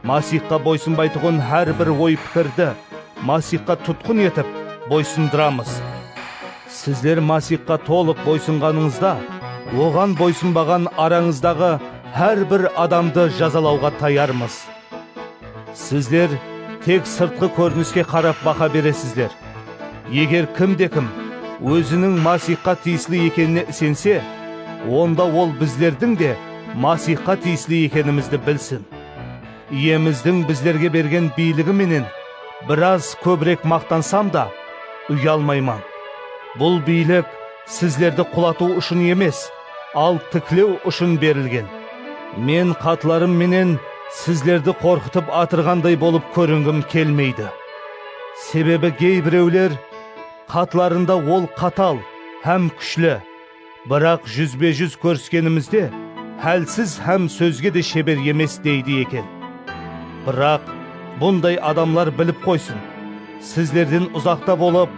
Masixqa boysınbaytuǵın hár bir oy-pikirdi Masixqa tutqın etip boysındıramız. Sizler Masixqa tolıq boysınǵanıńızda, Oǵan boysınbaǵan arańızdaǵı hár bir adamdı jazalawǵa tayarmız. Sizler tek sırtqı kóriniske qarap baha beresizler. Eger kimde-kim óziniń Masixqa tiyisli ekenine isense, onda ol bizlerdiń de Masixqa tiyisli ekenimizdi bilsin. Iyemizdiń bizlerge bergen biyligi menen biraz kóbirek maqtansam da, uyalmayman. Bul biylik sizlerdi qulatıw ushın emes, al tiklew ushın berilgen. Men xatlarım menen sizlerdi qorqıtıp atırǵanday bolıp kóringim kelmeydi. Sebebi geybirewler xatlarında ol qatal hám kúshli, Biraq júzbe-júz kóriskenimizde hálsiz hám sózge de sheber emes deydi eken. Biraq, bunday adamlar bilip qoysın, sizlerden uzaqta bolıp,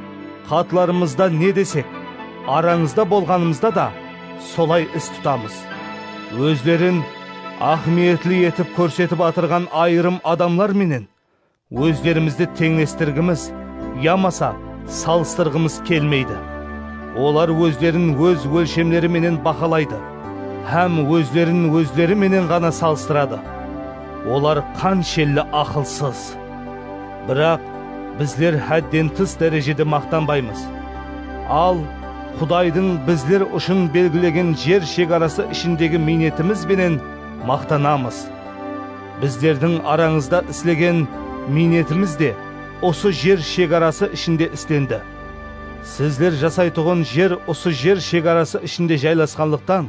xatlarımızda ne desek, arańızda bolǵanımızda da solay is tutamız. Ózlerin áhmiyetli etip kórsetip atırǵan ayırım adamlar menen Ózlerimizdi teńlestirgimiz yamasa salıstırǵımız kelmeydi. Olar ózlerin óz ólshemleri menen bahalaydı hám ózlerin ózleri menen ǵana salıstıradı. Olar qanshelli aqılsız! Biraq, bizler hádden tıs dárejede maqtanbaymız. Al, Qudaydıń bizler ushın belgilegen jer shegarası ishindegi miynetimiz benen maqtanamız. Bizlerdiń arańızda islegen miynetimiz de usı jer shegarası ishinde islendi. Sizler jasaytuǵın jer usı jer shegarası ishinde jaylasqanlıqtan,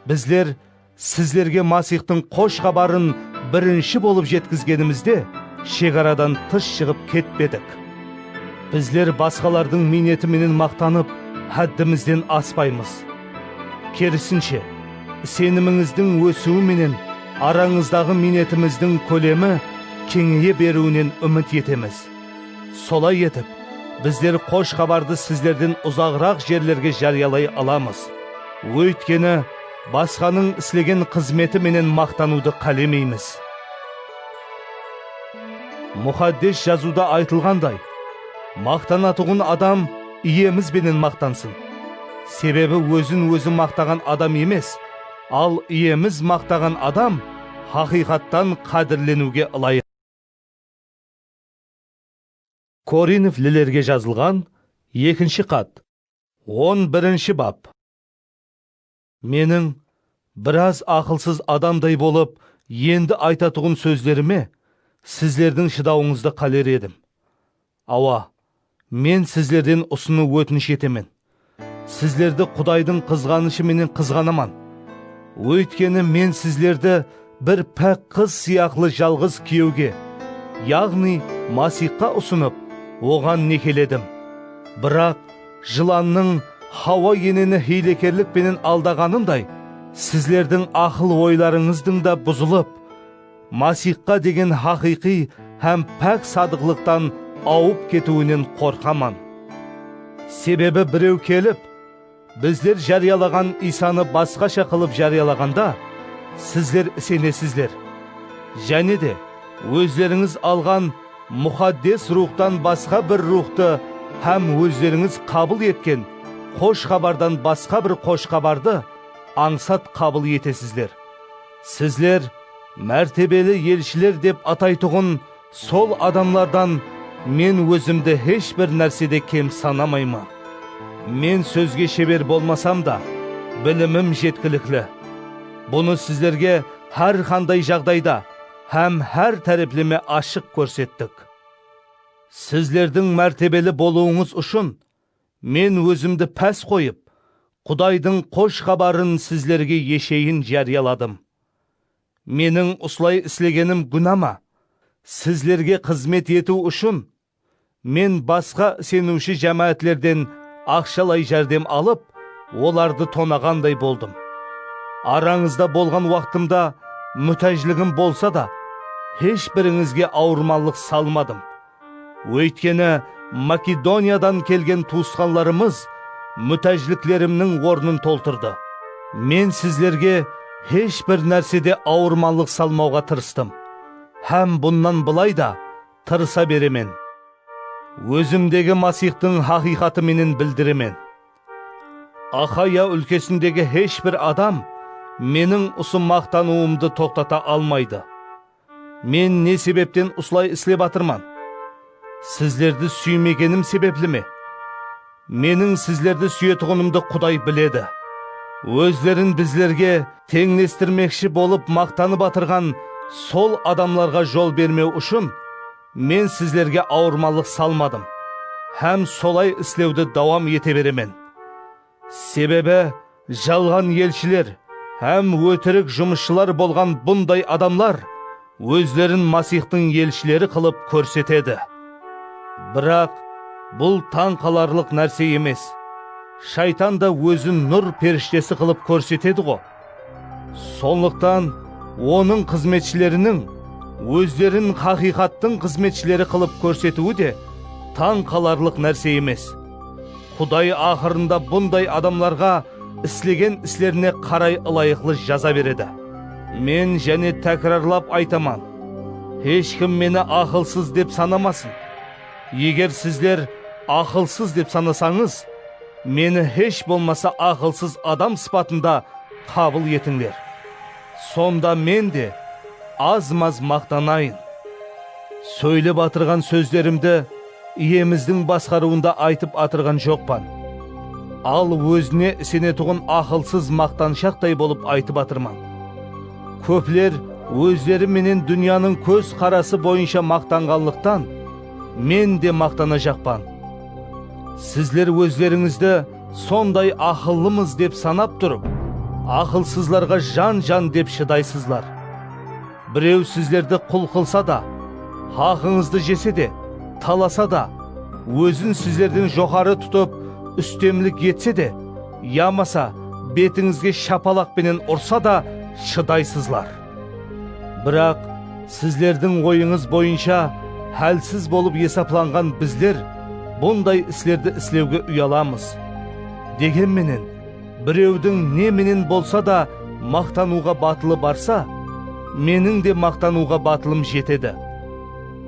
bizler sizlerge Masixtıń Xosh Xabarın birinshi bolıp jetkizgenimizde shegaradan tıs shıǵıp ketpedik. Bizler basqalardıń miyneti menen maqtanıp, háddimizden aspaymız. Kerisinshe, isenimińizdiń ósiwi menen arańızdaǵı miynetimizdiń kólemi keńeye beriwinen úmit etemiz. Solay etip, bizler Xosh Xabardı sizlerden uzaǵıraq jerlerge járiyalay alamız, óytkeni basqanıń islegen xızmeti menen maqtanıwdı qálemeymiz. Muxaddes Jazıwda aytılǵanday, Maqtanatuǵın adam Iyemiz benen maqtansın. Sebebi ózin-ózi maqtaǵan adam emes, al Iyemiz maqtaǵan adam haqıyqattan qádirleniwge ılayıq. Korinflilerge jazılǵan ekinshi xat, on birinshi bap. Meniń biraz aqılsız adamday bolıp endi aytatuǵın sózlerime sizlerdiń shıdawıńızdı qáler edim. Awa, men sizlerden usını ótinish etemen, sizlerdi Qudaydıń qızǵanıshı menen qızǵanaman. Óytkeni men sizlerdi Bir pák qız sıyaqlı jalǵız kúyewge, yaǵnıy Masixqa usınıp, Oǵan nekeledim. Biraq, jılannıń Xawa eneni hiylekerlik penen aldaǵanınday, sizlerdiń aqıl-oylarıńızdıń da buzılıp, Masixqa degen haqıyqıy hám pák sadıqlıqtan awıp ketiwinen qorqaman. Sebebi birew kelip. Bizler járiyalaǵan Iysanı basqasha qılıp járiyalaǵanda, sizler isenesizler. Jáne de, ózlerińiz alǵan Muxaddes Ruwxtan basqa bir Ruwxtı hám ózlerińiz qabıl etken Xosh Xabardan basqa bir Xosh Xabardı ańsat qabıl etesizler. Sizler mártebeli elshiler dep ataytuǵın Sol adamlardan Men Ózimdi hesh bir nársede kem sanamayman. Men sózge sheber bolmasam da, bilimim jetkilikli. Bunı sizlerge hár qanday jaǵdayda hám hár tárepleme ashıq kórsettik. Sizlerdiń mártebeli bolıwıńız ushın Men Ózimdi pás qoyıp, Qudaydıń Xosh Xabarın sizlerge esheyin járiyaladım. Meniń usılay islegenim gúna ma? Sizlerge xızmet etiw ushın, men basqa iseniwshi jámáátlerden aqshalay járdem alıp, olardı tonaǵanday boldım. Arańızda bolǵan waqtımda mútájligim bolsa da, hesh birińizge awırmanlıq salmadım, Óytkeni, Makedoniyadan kelgen tuwısqanlarımız mútájliklerimniń ornın toltırdı. Men sizlerge hesh bir nársede awırmanlıq salmawǵa tırıstım hám bunnan bılay da tırısa beremen. Ózimdegi Masixtıń haqıyqatı menen bildiremen. Axaya úlkesindegi hesh bir adam meniń usı maqtanıwımdı toqtata almaydı. Men ne sebepten usılay islep atırman? Sizlerdi súymegenim sebepli me? Meniń sizlerdi súyetuǵınımdı Quday biledi. Ózlerin bizlerge teńlestirmekshi bolıp maqtanıp atırǵan sol adamlarǵa jol bermew ushın, men sizlerge awırmanlıq salmadım hám solay islewdi dawam ete beremen. Sebebi, jalǵan elshiler hám ótirik jumısshılar bolǵan bunday adamlar ózlerin Masixtıń elshileri qılıp kórsetedi. Biraq, bul tań qalarlıq nárse emes. Shaytan da ózin nur perishtesi qılıp kórsetedi-ǵo. Sonlıqtan Onıń xızmetshileriniń ózlerin haqıyqattıń xızmetshileri qılıp kórsetiwi de tań qalarlıq nárse emes. Quday aqırında bunday adamlarǵa islegen islerine qaray ılayıqlı jaza beredi. Men jáne tákirarlap aytaman, Hesh kim meni aqılsız dep sanamasın. Eger sizler aqılsız dep sanasańız, Meni hesh bolmasa aqılsız adam sıpatında qabıl etińler. Sonda Men de az-maz maqtanayın. Sóylep atırǵan sózlerimdi Iyemizdiń basqarıwında aytıp atırǵan joqpan. Al, ózine isenetuǵın aqılsız maqtanshaqtay bolıp aytıp atırman. Kópler ózleri menen dúnyanıń kóz qarası boyınsha maqtanǵanlıqtan, men de maqtanajaqpan. Sizler ózlerińizdi sonday aqıllımız dep sanap turıp, aqılsızlarǵa jan-jan dep shıdaysızlar. Birew sizlerdi qul qılsa da, haqıńızdı jese de, talasa da, ózin sizlerden joqarı tutıp, ústemlik etse de, Yamasa betińizge shapalaq penen ursa da shıdaysızlar. Biraq, sizlerdiń oyıńız boyınsha hálsiz bolıp esaplanǵan bizler bunday islerdi islewge uyalamız. Degen menen, birewdiń ne menen bolsa da maqtanıwǵa batılı barsa, meniń de maqtanıwǵa batılım jetedi.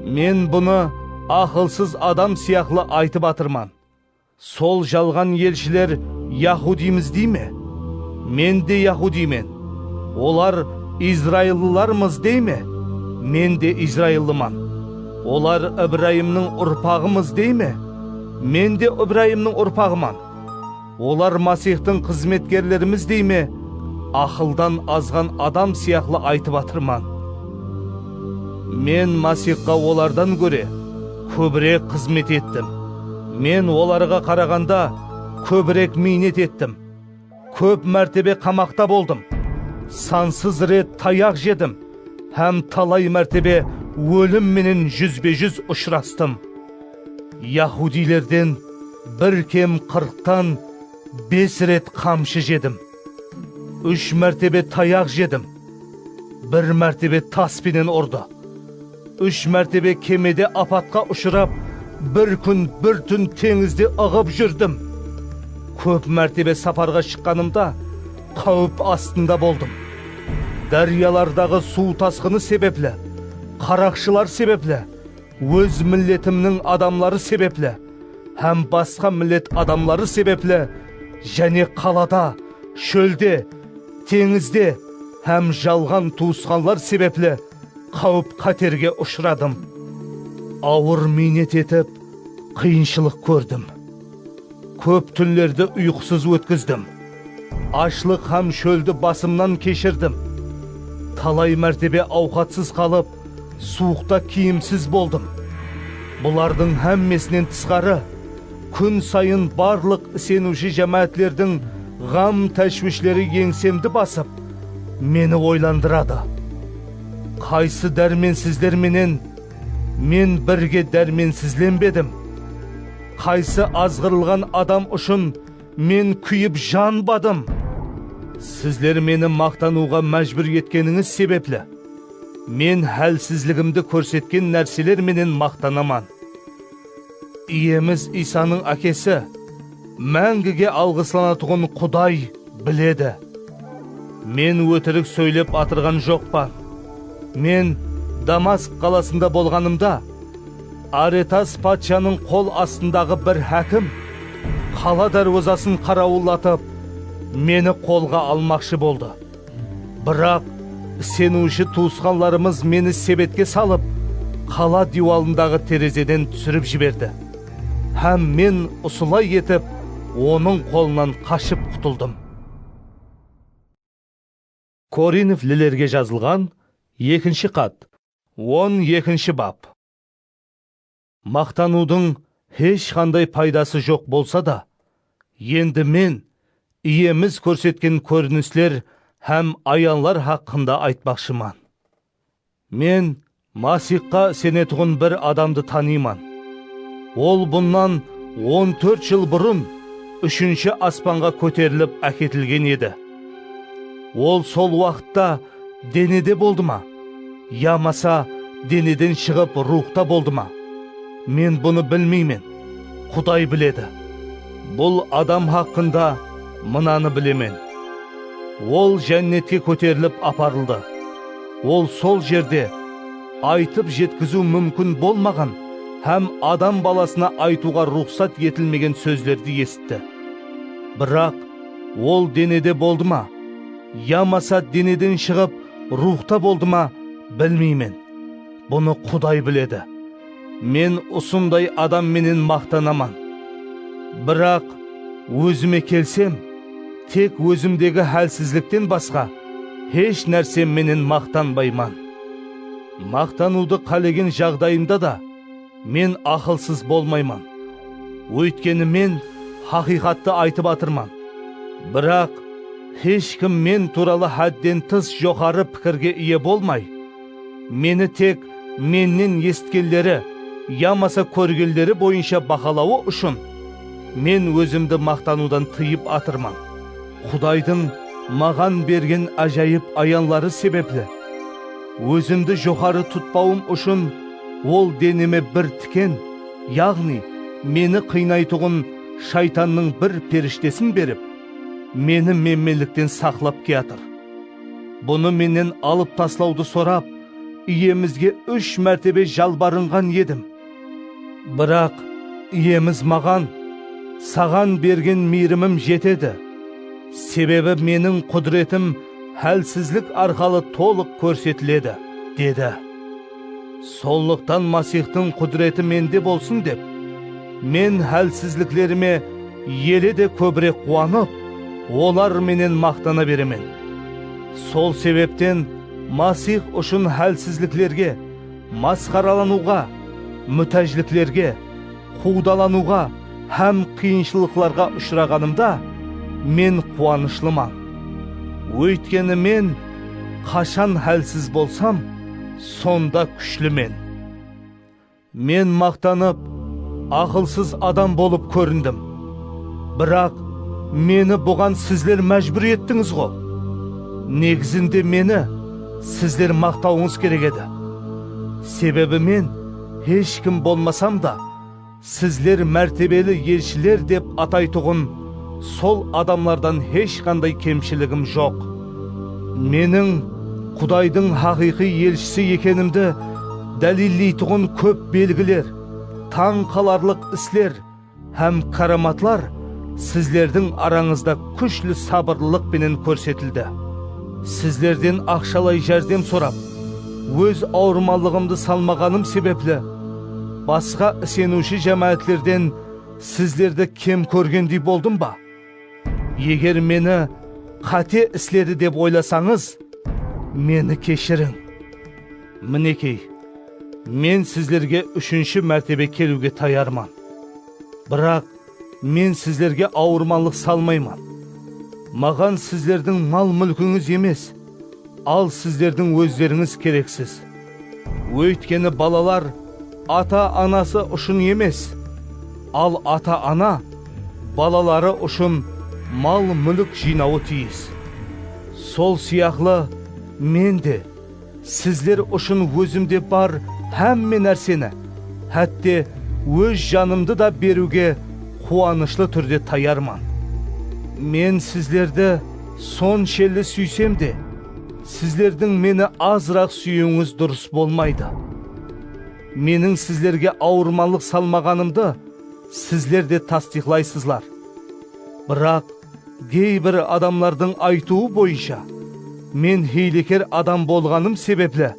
Men bunı aqılsız adam sıyaqlı aytıp atırman. Sol jalǵan elshiler yahudiymız dey me? Men de yahudiymen. Olar izraillılarmız dey me? Men de izraillıman. Olar Ibrayımnıń urpaǵımız dey me? Men de Ibrayımnıń urpaǵıman. Olar Masixtıń xızmetkerlerimiz dey me? Aqıldan azǵan adam sıyaqlı aytıp atırman. Men Masixqa olardan góre. kóbirek xızmet ettim. Men olarǵa qaraǵanda kóbirek miynet ettim. Kóp mártebe qamaqta boldım, sansız ret tayaq jedim hám talay mártebe ólim menen júzbe-júz ushırastım. Yahudiylerden bir kem qırqtan bes ret qamshı jedim. Úsh mártebe tayaq jedim. Bir mártebe tas penen urdı. Úsh mártebe kemede apatqa ushırap, bir kún, bir tún teńizde ıǵıp júrdim. Kóp mártebe saparǵa shıqqanımda qáwip astında boldım. Dáryalardaǵı suw tasqını sebepli, qaraqshılar sebepli. Óz milletimniń adamları sebepli hám basqa millet adamları sebepli jáne qalada, shólde, teńizde hám jalǵan tuwısqanlar sebepli qáwip-qáterge ushıradım. Awır miynet etip, qıyınshılıq kórdim. Kóp túnlerdi uyqısız ótkizdim. Ashlıq hám shóldi basımnan keshirdim. Talay mártebe awqatsız qalıp, Suwıqta kiyimsiz boldım. Bulardıń hámmesinen tısqarı, kún sayın barlıq iseniwshi jámáátlerdiń ǵam-táshwishleri eńsemdi basıp, meni oylandıradı. Qaysı dármensizler menen Men birge dármensizlenbedim? Qaysı azǵırılǵan adam ushın Men kúyip janbadım. Sizler meni maqtanıwǵa májbúr etkenińiz sebepli, men hálsizligimdi kórsetken nárseler menen maqtanaman. Iyemiz Iysanıń Ákesi, máńgige alǵıslanatuǵın Quday biledi. Men ótirik sóylep atırǵan joqpan. Men Damasq qalasında bolǵanımda, Aretas patshanıń qol astındaǵı bir hákim qala dárwazasın qarawıllatıp, meni qolǵa almaqshı boldı. Biraq iseniwshi tuwısqanlarımız meni sebetke salıp, qala diywalındaǵı terezeden túsirip jiberdi hám men usılay etip onıń qolınan qashıp qutıldım. Korinf lilerge jazılǵan ekinshi xat. On ekinshi bap. Maqtanıwdıń hesh qanday paydası joq bolsa da, endi men Iyemiz kórsetken kórinisler hám ayanlar haqqında aytpaqshıman. Men Masixqa isenetuǵın bir adamdı tanıyman. Ol bunnan on tórt jıl burın úshinshi aspanǵa kóterilip áketilgen edi. Ol sol waqıtta denede boldı ma, yamasa deneden shıǵıp ruwxta boldı ma? Men bunı bilmeymen, Quday biledi. Bul adam haqqında mınanı bilemen, Ol Jánnetke kóterilip aparıldı. Ol sol jerde aytıp jetkiziw múmkin bolmaǵan hám Adam Balasına aytıwǵa ruxsat etilmegen sózlerdi esitti. Biraq Ol denede boldı ma, yamasa deneden shıǵıp ruwxta boldı ma, bilmeymen. Bunı Quday biledi. Men usınday adam menen maqtanaman. Biraq, ózime kelsem, tek ózimdegi hálsizlikten basqa hesh nársem menen maqtanbayman. Maqtanıwdı qálegen jaǵdayımda da, men aqılsız bolmayman. Óytkeni men haqıyqattı aytıp atırman. Biraq, hesh kim men tuuralı hádden tıs joqarı pikirge iye bolmay, Meni tek mennen esitkenleri yamasa kórgenleri boyınsha bahalawı ushın men ózimdi maqtanıwdan tıyıp atırman. Qudaydıń maǵan bergen ájayıp ayanları sebepli, ózimdi joqarı tutpawım ushın Ol deneme bir tiken, yaǵnıy, meni qıynaytuǵın Shaytannıń bir perishtesin berip, meni menmenlikten saqlap kiyatır. Bunı mennen alıp taslawdı sorap, iyemizge úsh mártebe jalbarınǵan edim. Biraq iyemiz maǵan, Saǵan bergen miyrimim jetedi, sebebi meniń qudiretim hálsizlik arqalı tolıq kórsetiledi, dedi. Sonlıqtan Masixtıń qúdireti mende bolsın dep, men hálsizliklerime ele de kóbirek quwanıp, olar menen maqtana beremen. Sol sebepten Masix ushın hálsizliklerge, masqaralanıwǵa, mútájliklerge, quwdalanıwǵa hám qıyınshılıqlarǵa ushıraǵanımda men quwanıshlıman. Óytkeni men qashan hálsiz bolsam, sonda kúshlimen. Men maqtanıp, aqılsız adam bolıp kórindim. Biraq meni buǵan sizler májbúr ettińiz-ǵo. Negizinde meni sizler maqtawıńız kerek edi. Sebebi men, Hesh kim bolmasam da, sizler mártebeli elshiler dep ataytuǵın sol adamlardan hesh qanday kemshiligim joq. Meniń Qudaydıń haqıyqıy elshisi ekenimdi dálilleytuǵın kóp belgiler, tań qalarlıq isler, Hám káramatlar sizlerdiń arańızda kúshli sabırlılıq penen kórsetildi. Sizlerden aqshalay járdem sorap, óz awırmanlıǵımdı salmaǵanım sebepli, basqa iseniwshi jámáátlerden sizlerdi kem kórgendey boldım ba? Eger meni qáte isledi dep oylasańız, meni keshiriń. Minekey, men sizlerge úshinshi mártebe keliwge tayarman. Biraq men sizlerge awırmanlıq salmayman. Maǵan sizlerdiń mal-múlkińiz emes. Al sizlerdiń ózlerińiz kereksiz. Óytkeni balalar ata-anası ushın emes, al ata-ana balaları ushın mal-múlik jıynawı tiyis. Sol sıyaqlı Men de sizler ushın ózimde bar hámme nárseni, hátte Óz janımdı da beriwge quwanıshlı túrde tayarman. Men sizlerdi Sonshelli súysem de, sizlerdiń meni azıraq súyiwińiz durıs bolmaydı. Meniń sizlerge awırmanlıq salmaǵanımdı sizler de tastıyqlaysızlar. Biraq, geybir adamlardıń aytıwı boyınsha, men hiyleker adam bolǵanım sebepli,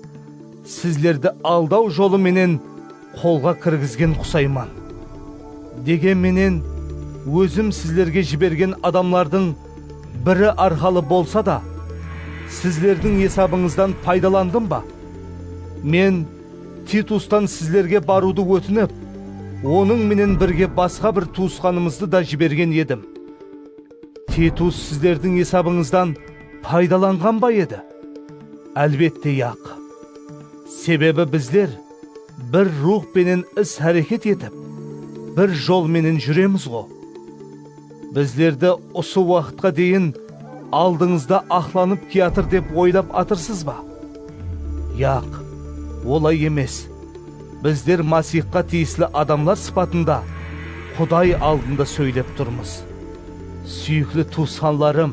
sizlerdi aldaw jolı menen, qolǵa kirgizgen qusayman. Degen menen, ózim sizlerge jibergen adamlardıń biri arqalı bolsa da, sizlerdiń esabıńızdan paydalandım ba? Men Titustan sizlerge barıwdı ótinip, onıń menen birge basqa bir tuwısqanımızdı da jibergen edim. Titus sizlerdiń esabıńızdan paydalanǵan ba edi? Álbette, yaq. Sebebi bizler, Bir ruwx penen is-háreket etip, bir jol menen júremiz-ǵo. Bizlerdi usı waqıtqa deyin aldıńızda aqlanıp kiyatır dep oylap atırsız ba? Yaq, olay emes. Bizler Masixqa tiyisli adamlar sıpatında Quday aldında sóylep turmız. Súyikli tuwısqanlarım!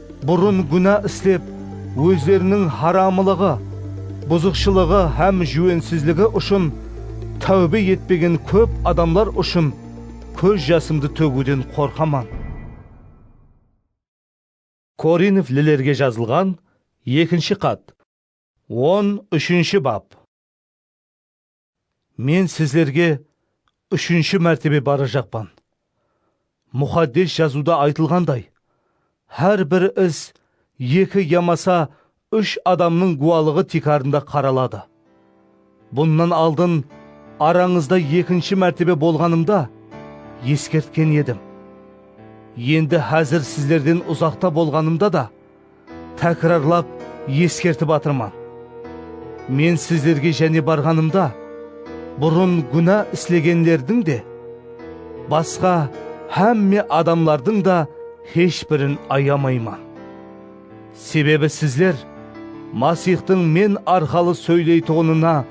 Burın gúna islep, ózleriniń haramılıǵı, buzıqshılıǵı hám júwensizligi ushın táwbe etpegen kóp adamlar ushın kóz jasımdı tógiwden qorqaman. Korinflilerge jazılǵan ekinshi xat, on úshinshi bap. Men sizlerge úshinshi mártebe barajaqpan. Muxaddes Jazıwda aytılǵanday, Hár bir is eki yamasa úsh adamnıń gúwalıǵı tiykarında qaraladı. Bunnan aldın arańızda ekinshi mártebe bolǵanımda eskertken edim. Endi házir sizlerden uzaqta bolǵanımda da, Tákirarlap eskertip atırman, men sizlerge jáne barǵanımda, burın gúna islegenlerdiń de, basqa hámme adamlardıń da hesh birin ayamayman. Sebebi sizler Masixtıń men arqalı sóyleytuǵınına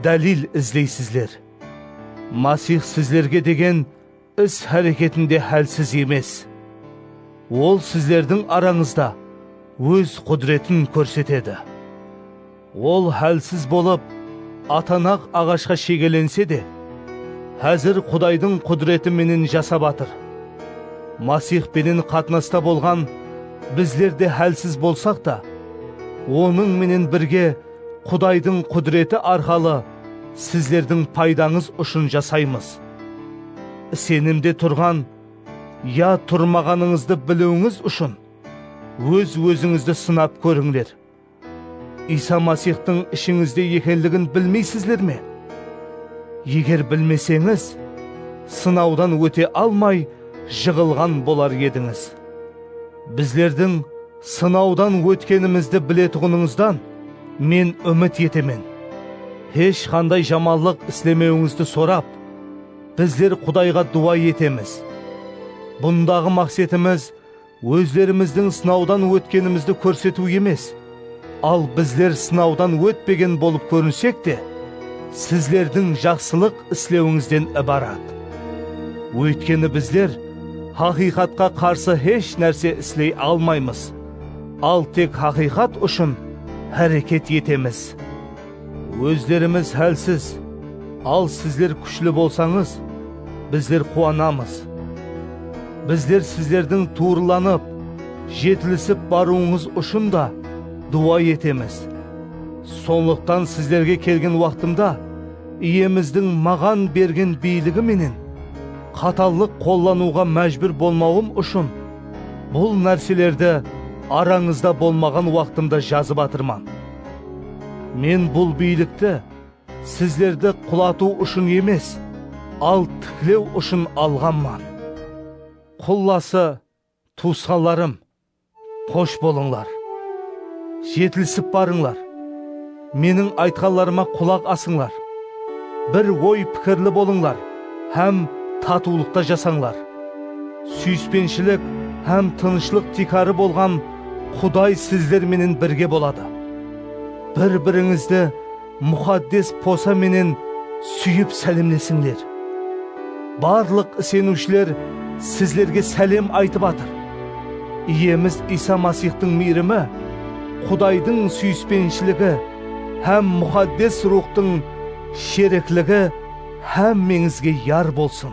dálil izleysizler. Masix sizlerge degen. Is-háreketinde hálsiz emes. Ol sizlerdiń arańızda Óz qúdiretin kórsetedi. Ol hálsiz bolıp, atanaq aǵashqa shegelense de, házir Qudaydıń qúdireti menen jasap atır. Masix penen qatnasta bolǵan bizler de hálsiz bolsaq ta, Onıń menen birge Qudaydıń qúdireti arqalı sizlerdiń paydańız ushın jasaymız. Isenimde turǵan ya turmaǵanıńızdı biliwińiz ushın óz-ózińizdi sınap kórińler. Iysa Masixtıń ishińizde ekenligin bilmeysizler me? Eger bilmeseńiz, sınawdan óte almay jıǵılǵan bolar edińiz. Bizlerdiń. Sınawdan ótkenimizdi biletuǵınıńızdan men úmit etemen. Hesh qanday jamanlıq islemewińizdi sorap, bizler Qudayǵa duwa etemiz. Bundaǵı maqsetimiz ózlerimizdiń sınawdan ótkenimizdi kórsetiw emes, al bizler sınawdan ótpegen bolıp kórinsek te, sizlerdiń jaqsılıq islewińizden ibarat. Óytkeni bizler Haqıyqatqa qarsı hesh nárse isley almaymız, al tek haqıyqat ushın háreket etemiz. Ózlerimiz hálsiz, al sizler kúshli bolsańız, bizler quwanamız. Bizler sizlerdiń tuwrılanıp, jetilisip barıwıńız ushın da duwa etemiz. Sonlıqtan sizlerge kelgen waqtımda Iyemizdiń maǵan bergen biyligi menen, Qatallıq qollanıwǵa májbúr bolmawım ushın bul nárselerdi arańızda bolmaǵan waqtımda jazıp atırman. Men bul biylikti sizlerdi qulatıw ushın emes, al tiklew ushın alǵanman. Qullası, Tuwısqanlarım, xosh bolıńlar! Jetilisip barıńlar! Meniń aytqanlarıma qulaq asıńlar! Bir oy-pikirli bolıńlar hám tatıwlıqta jasańlar! Súyispenshilik hám tınıshlıq tiykarı bolǵan Quday sizler menen birge boladı. Bir-birińizdi Muxaddes posa menen súyip sálemlesińler. Barlıq iseniwshiler sizlerge sálem aytıp atır. Iyemiz Iysa Masixtıń miyrimi, Qudaydıń súyispenshiligi hám Muxaddes Ruwxtıń sherikligi hámmeńizge yar bolsın.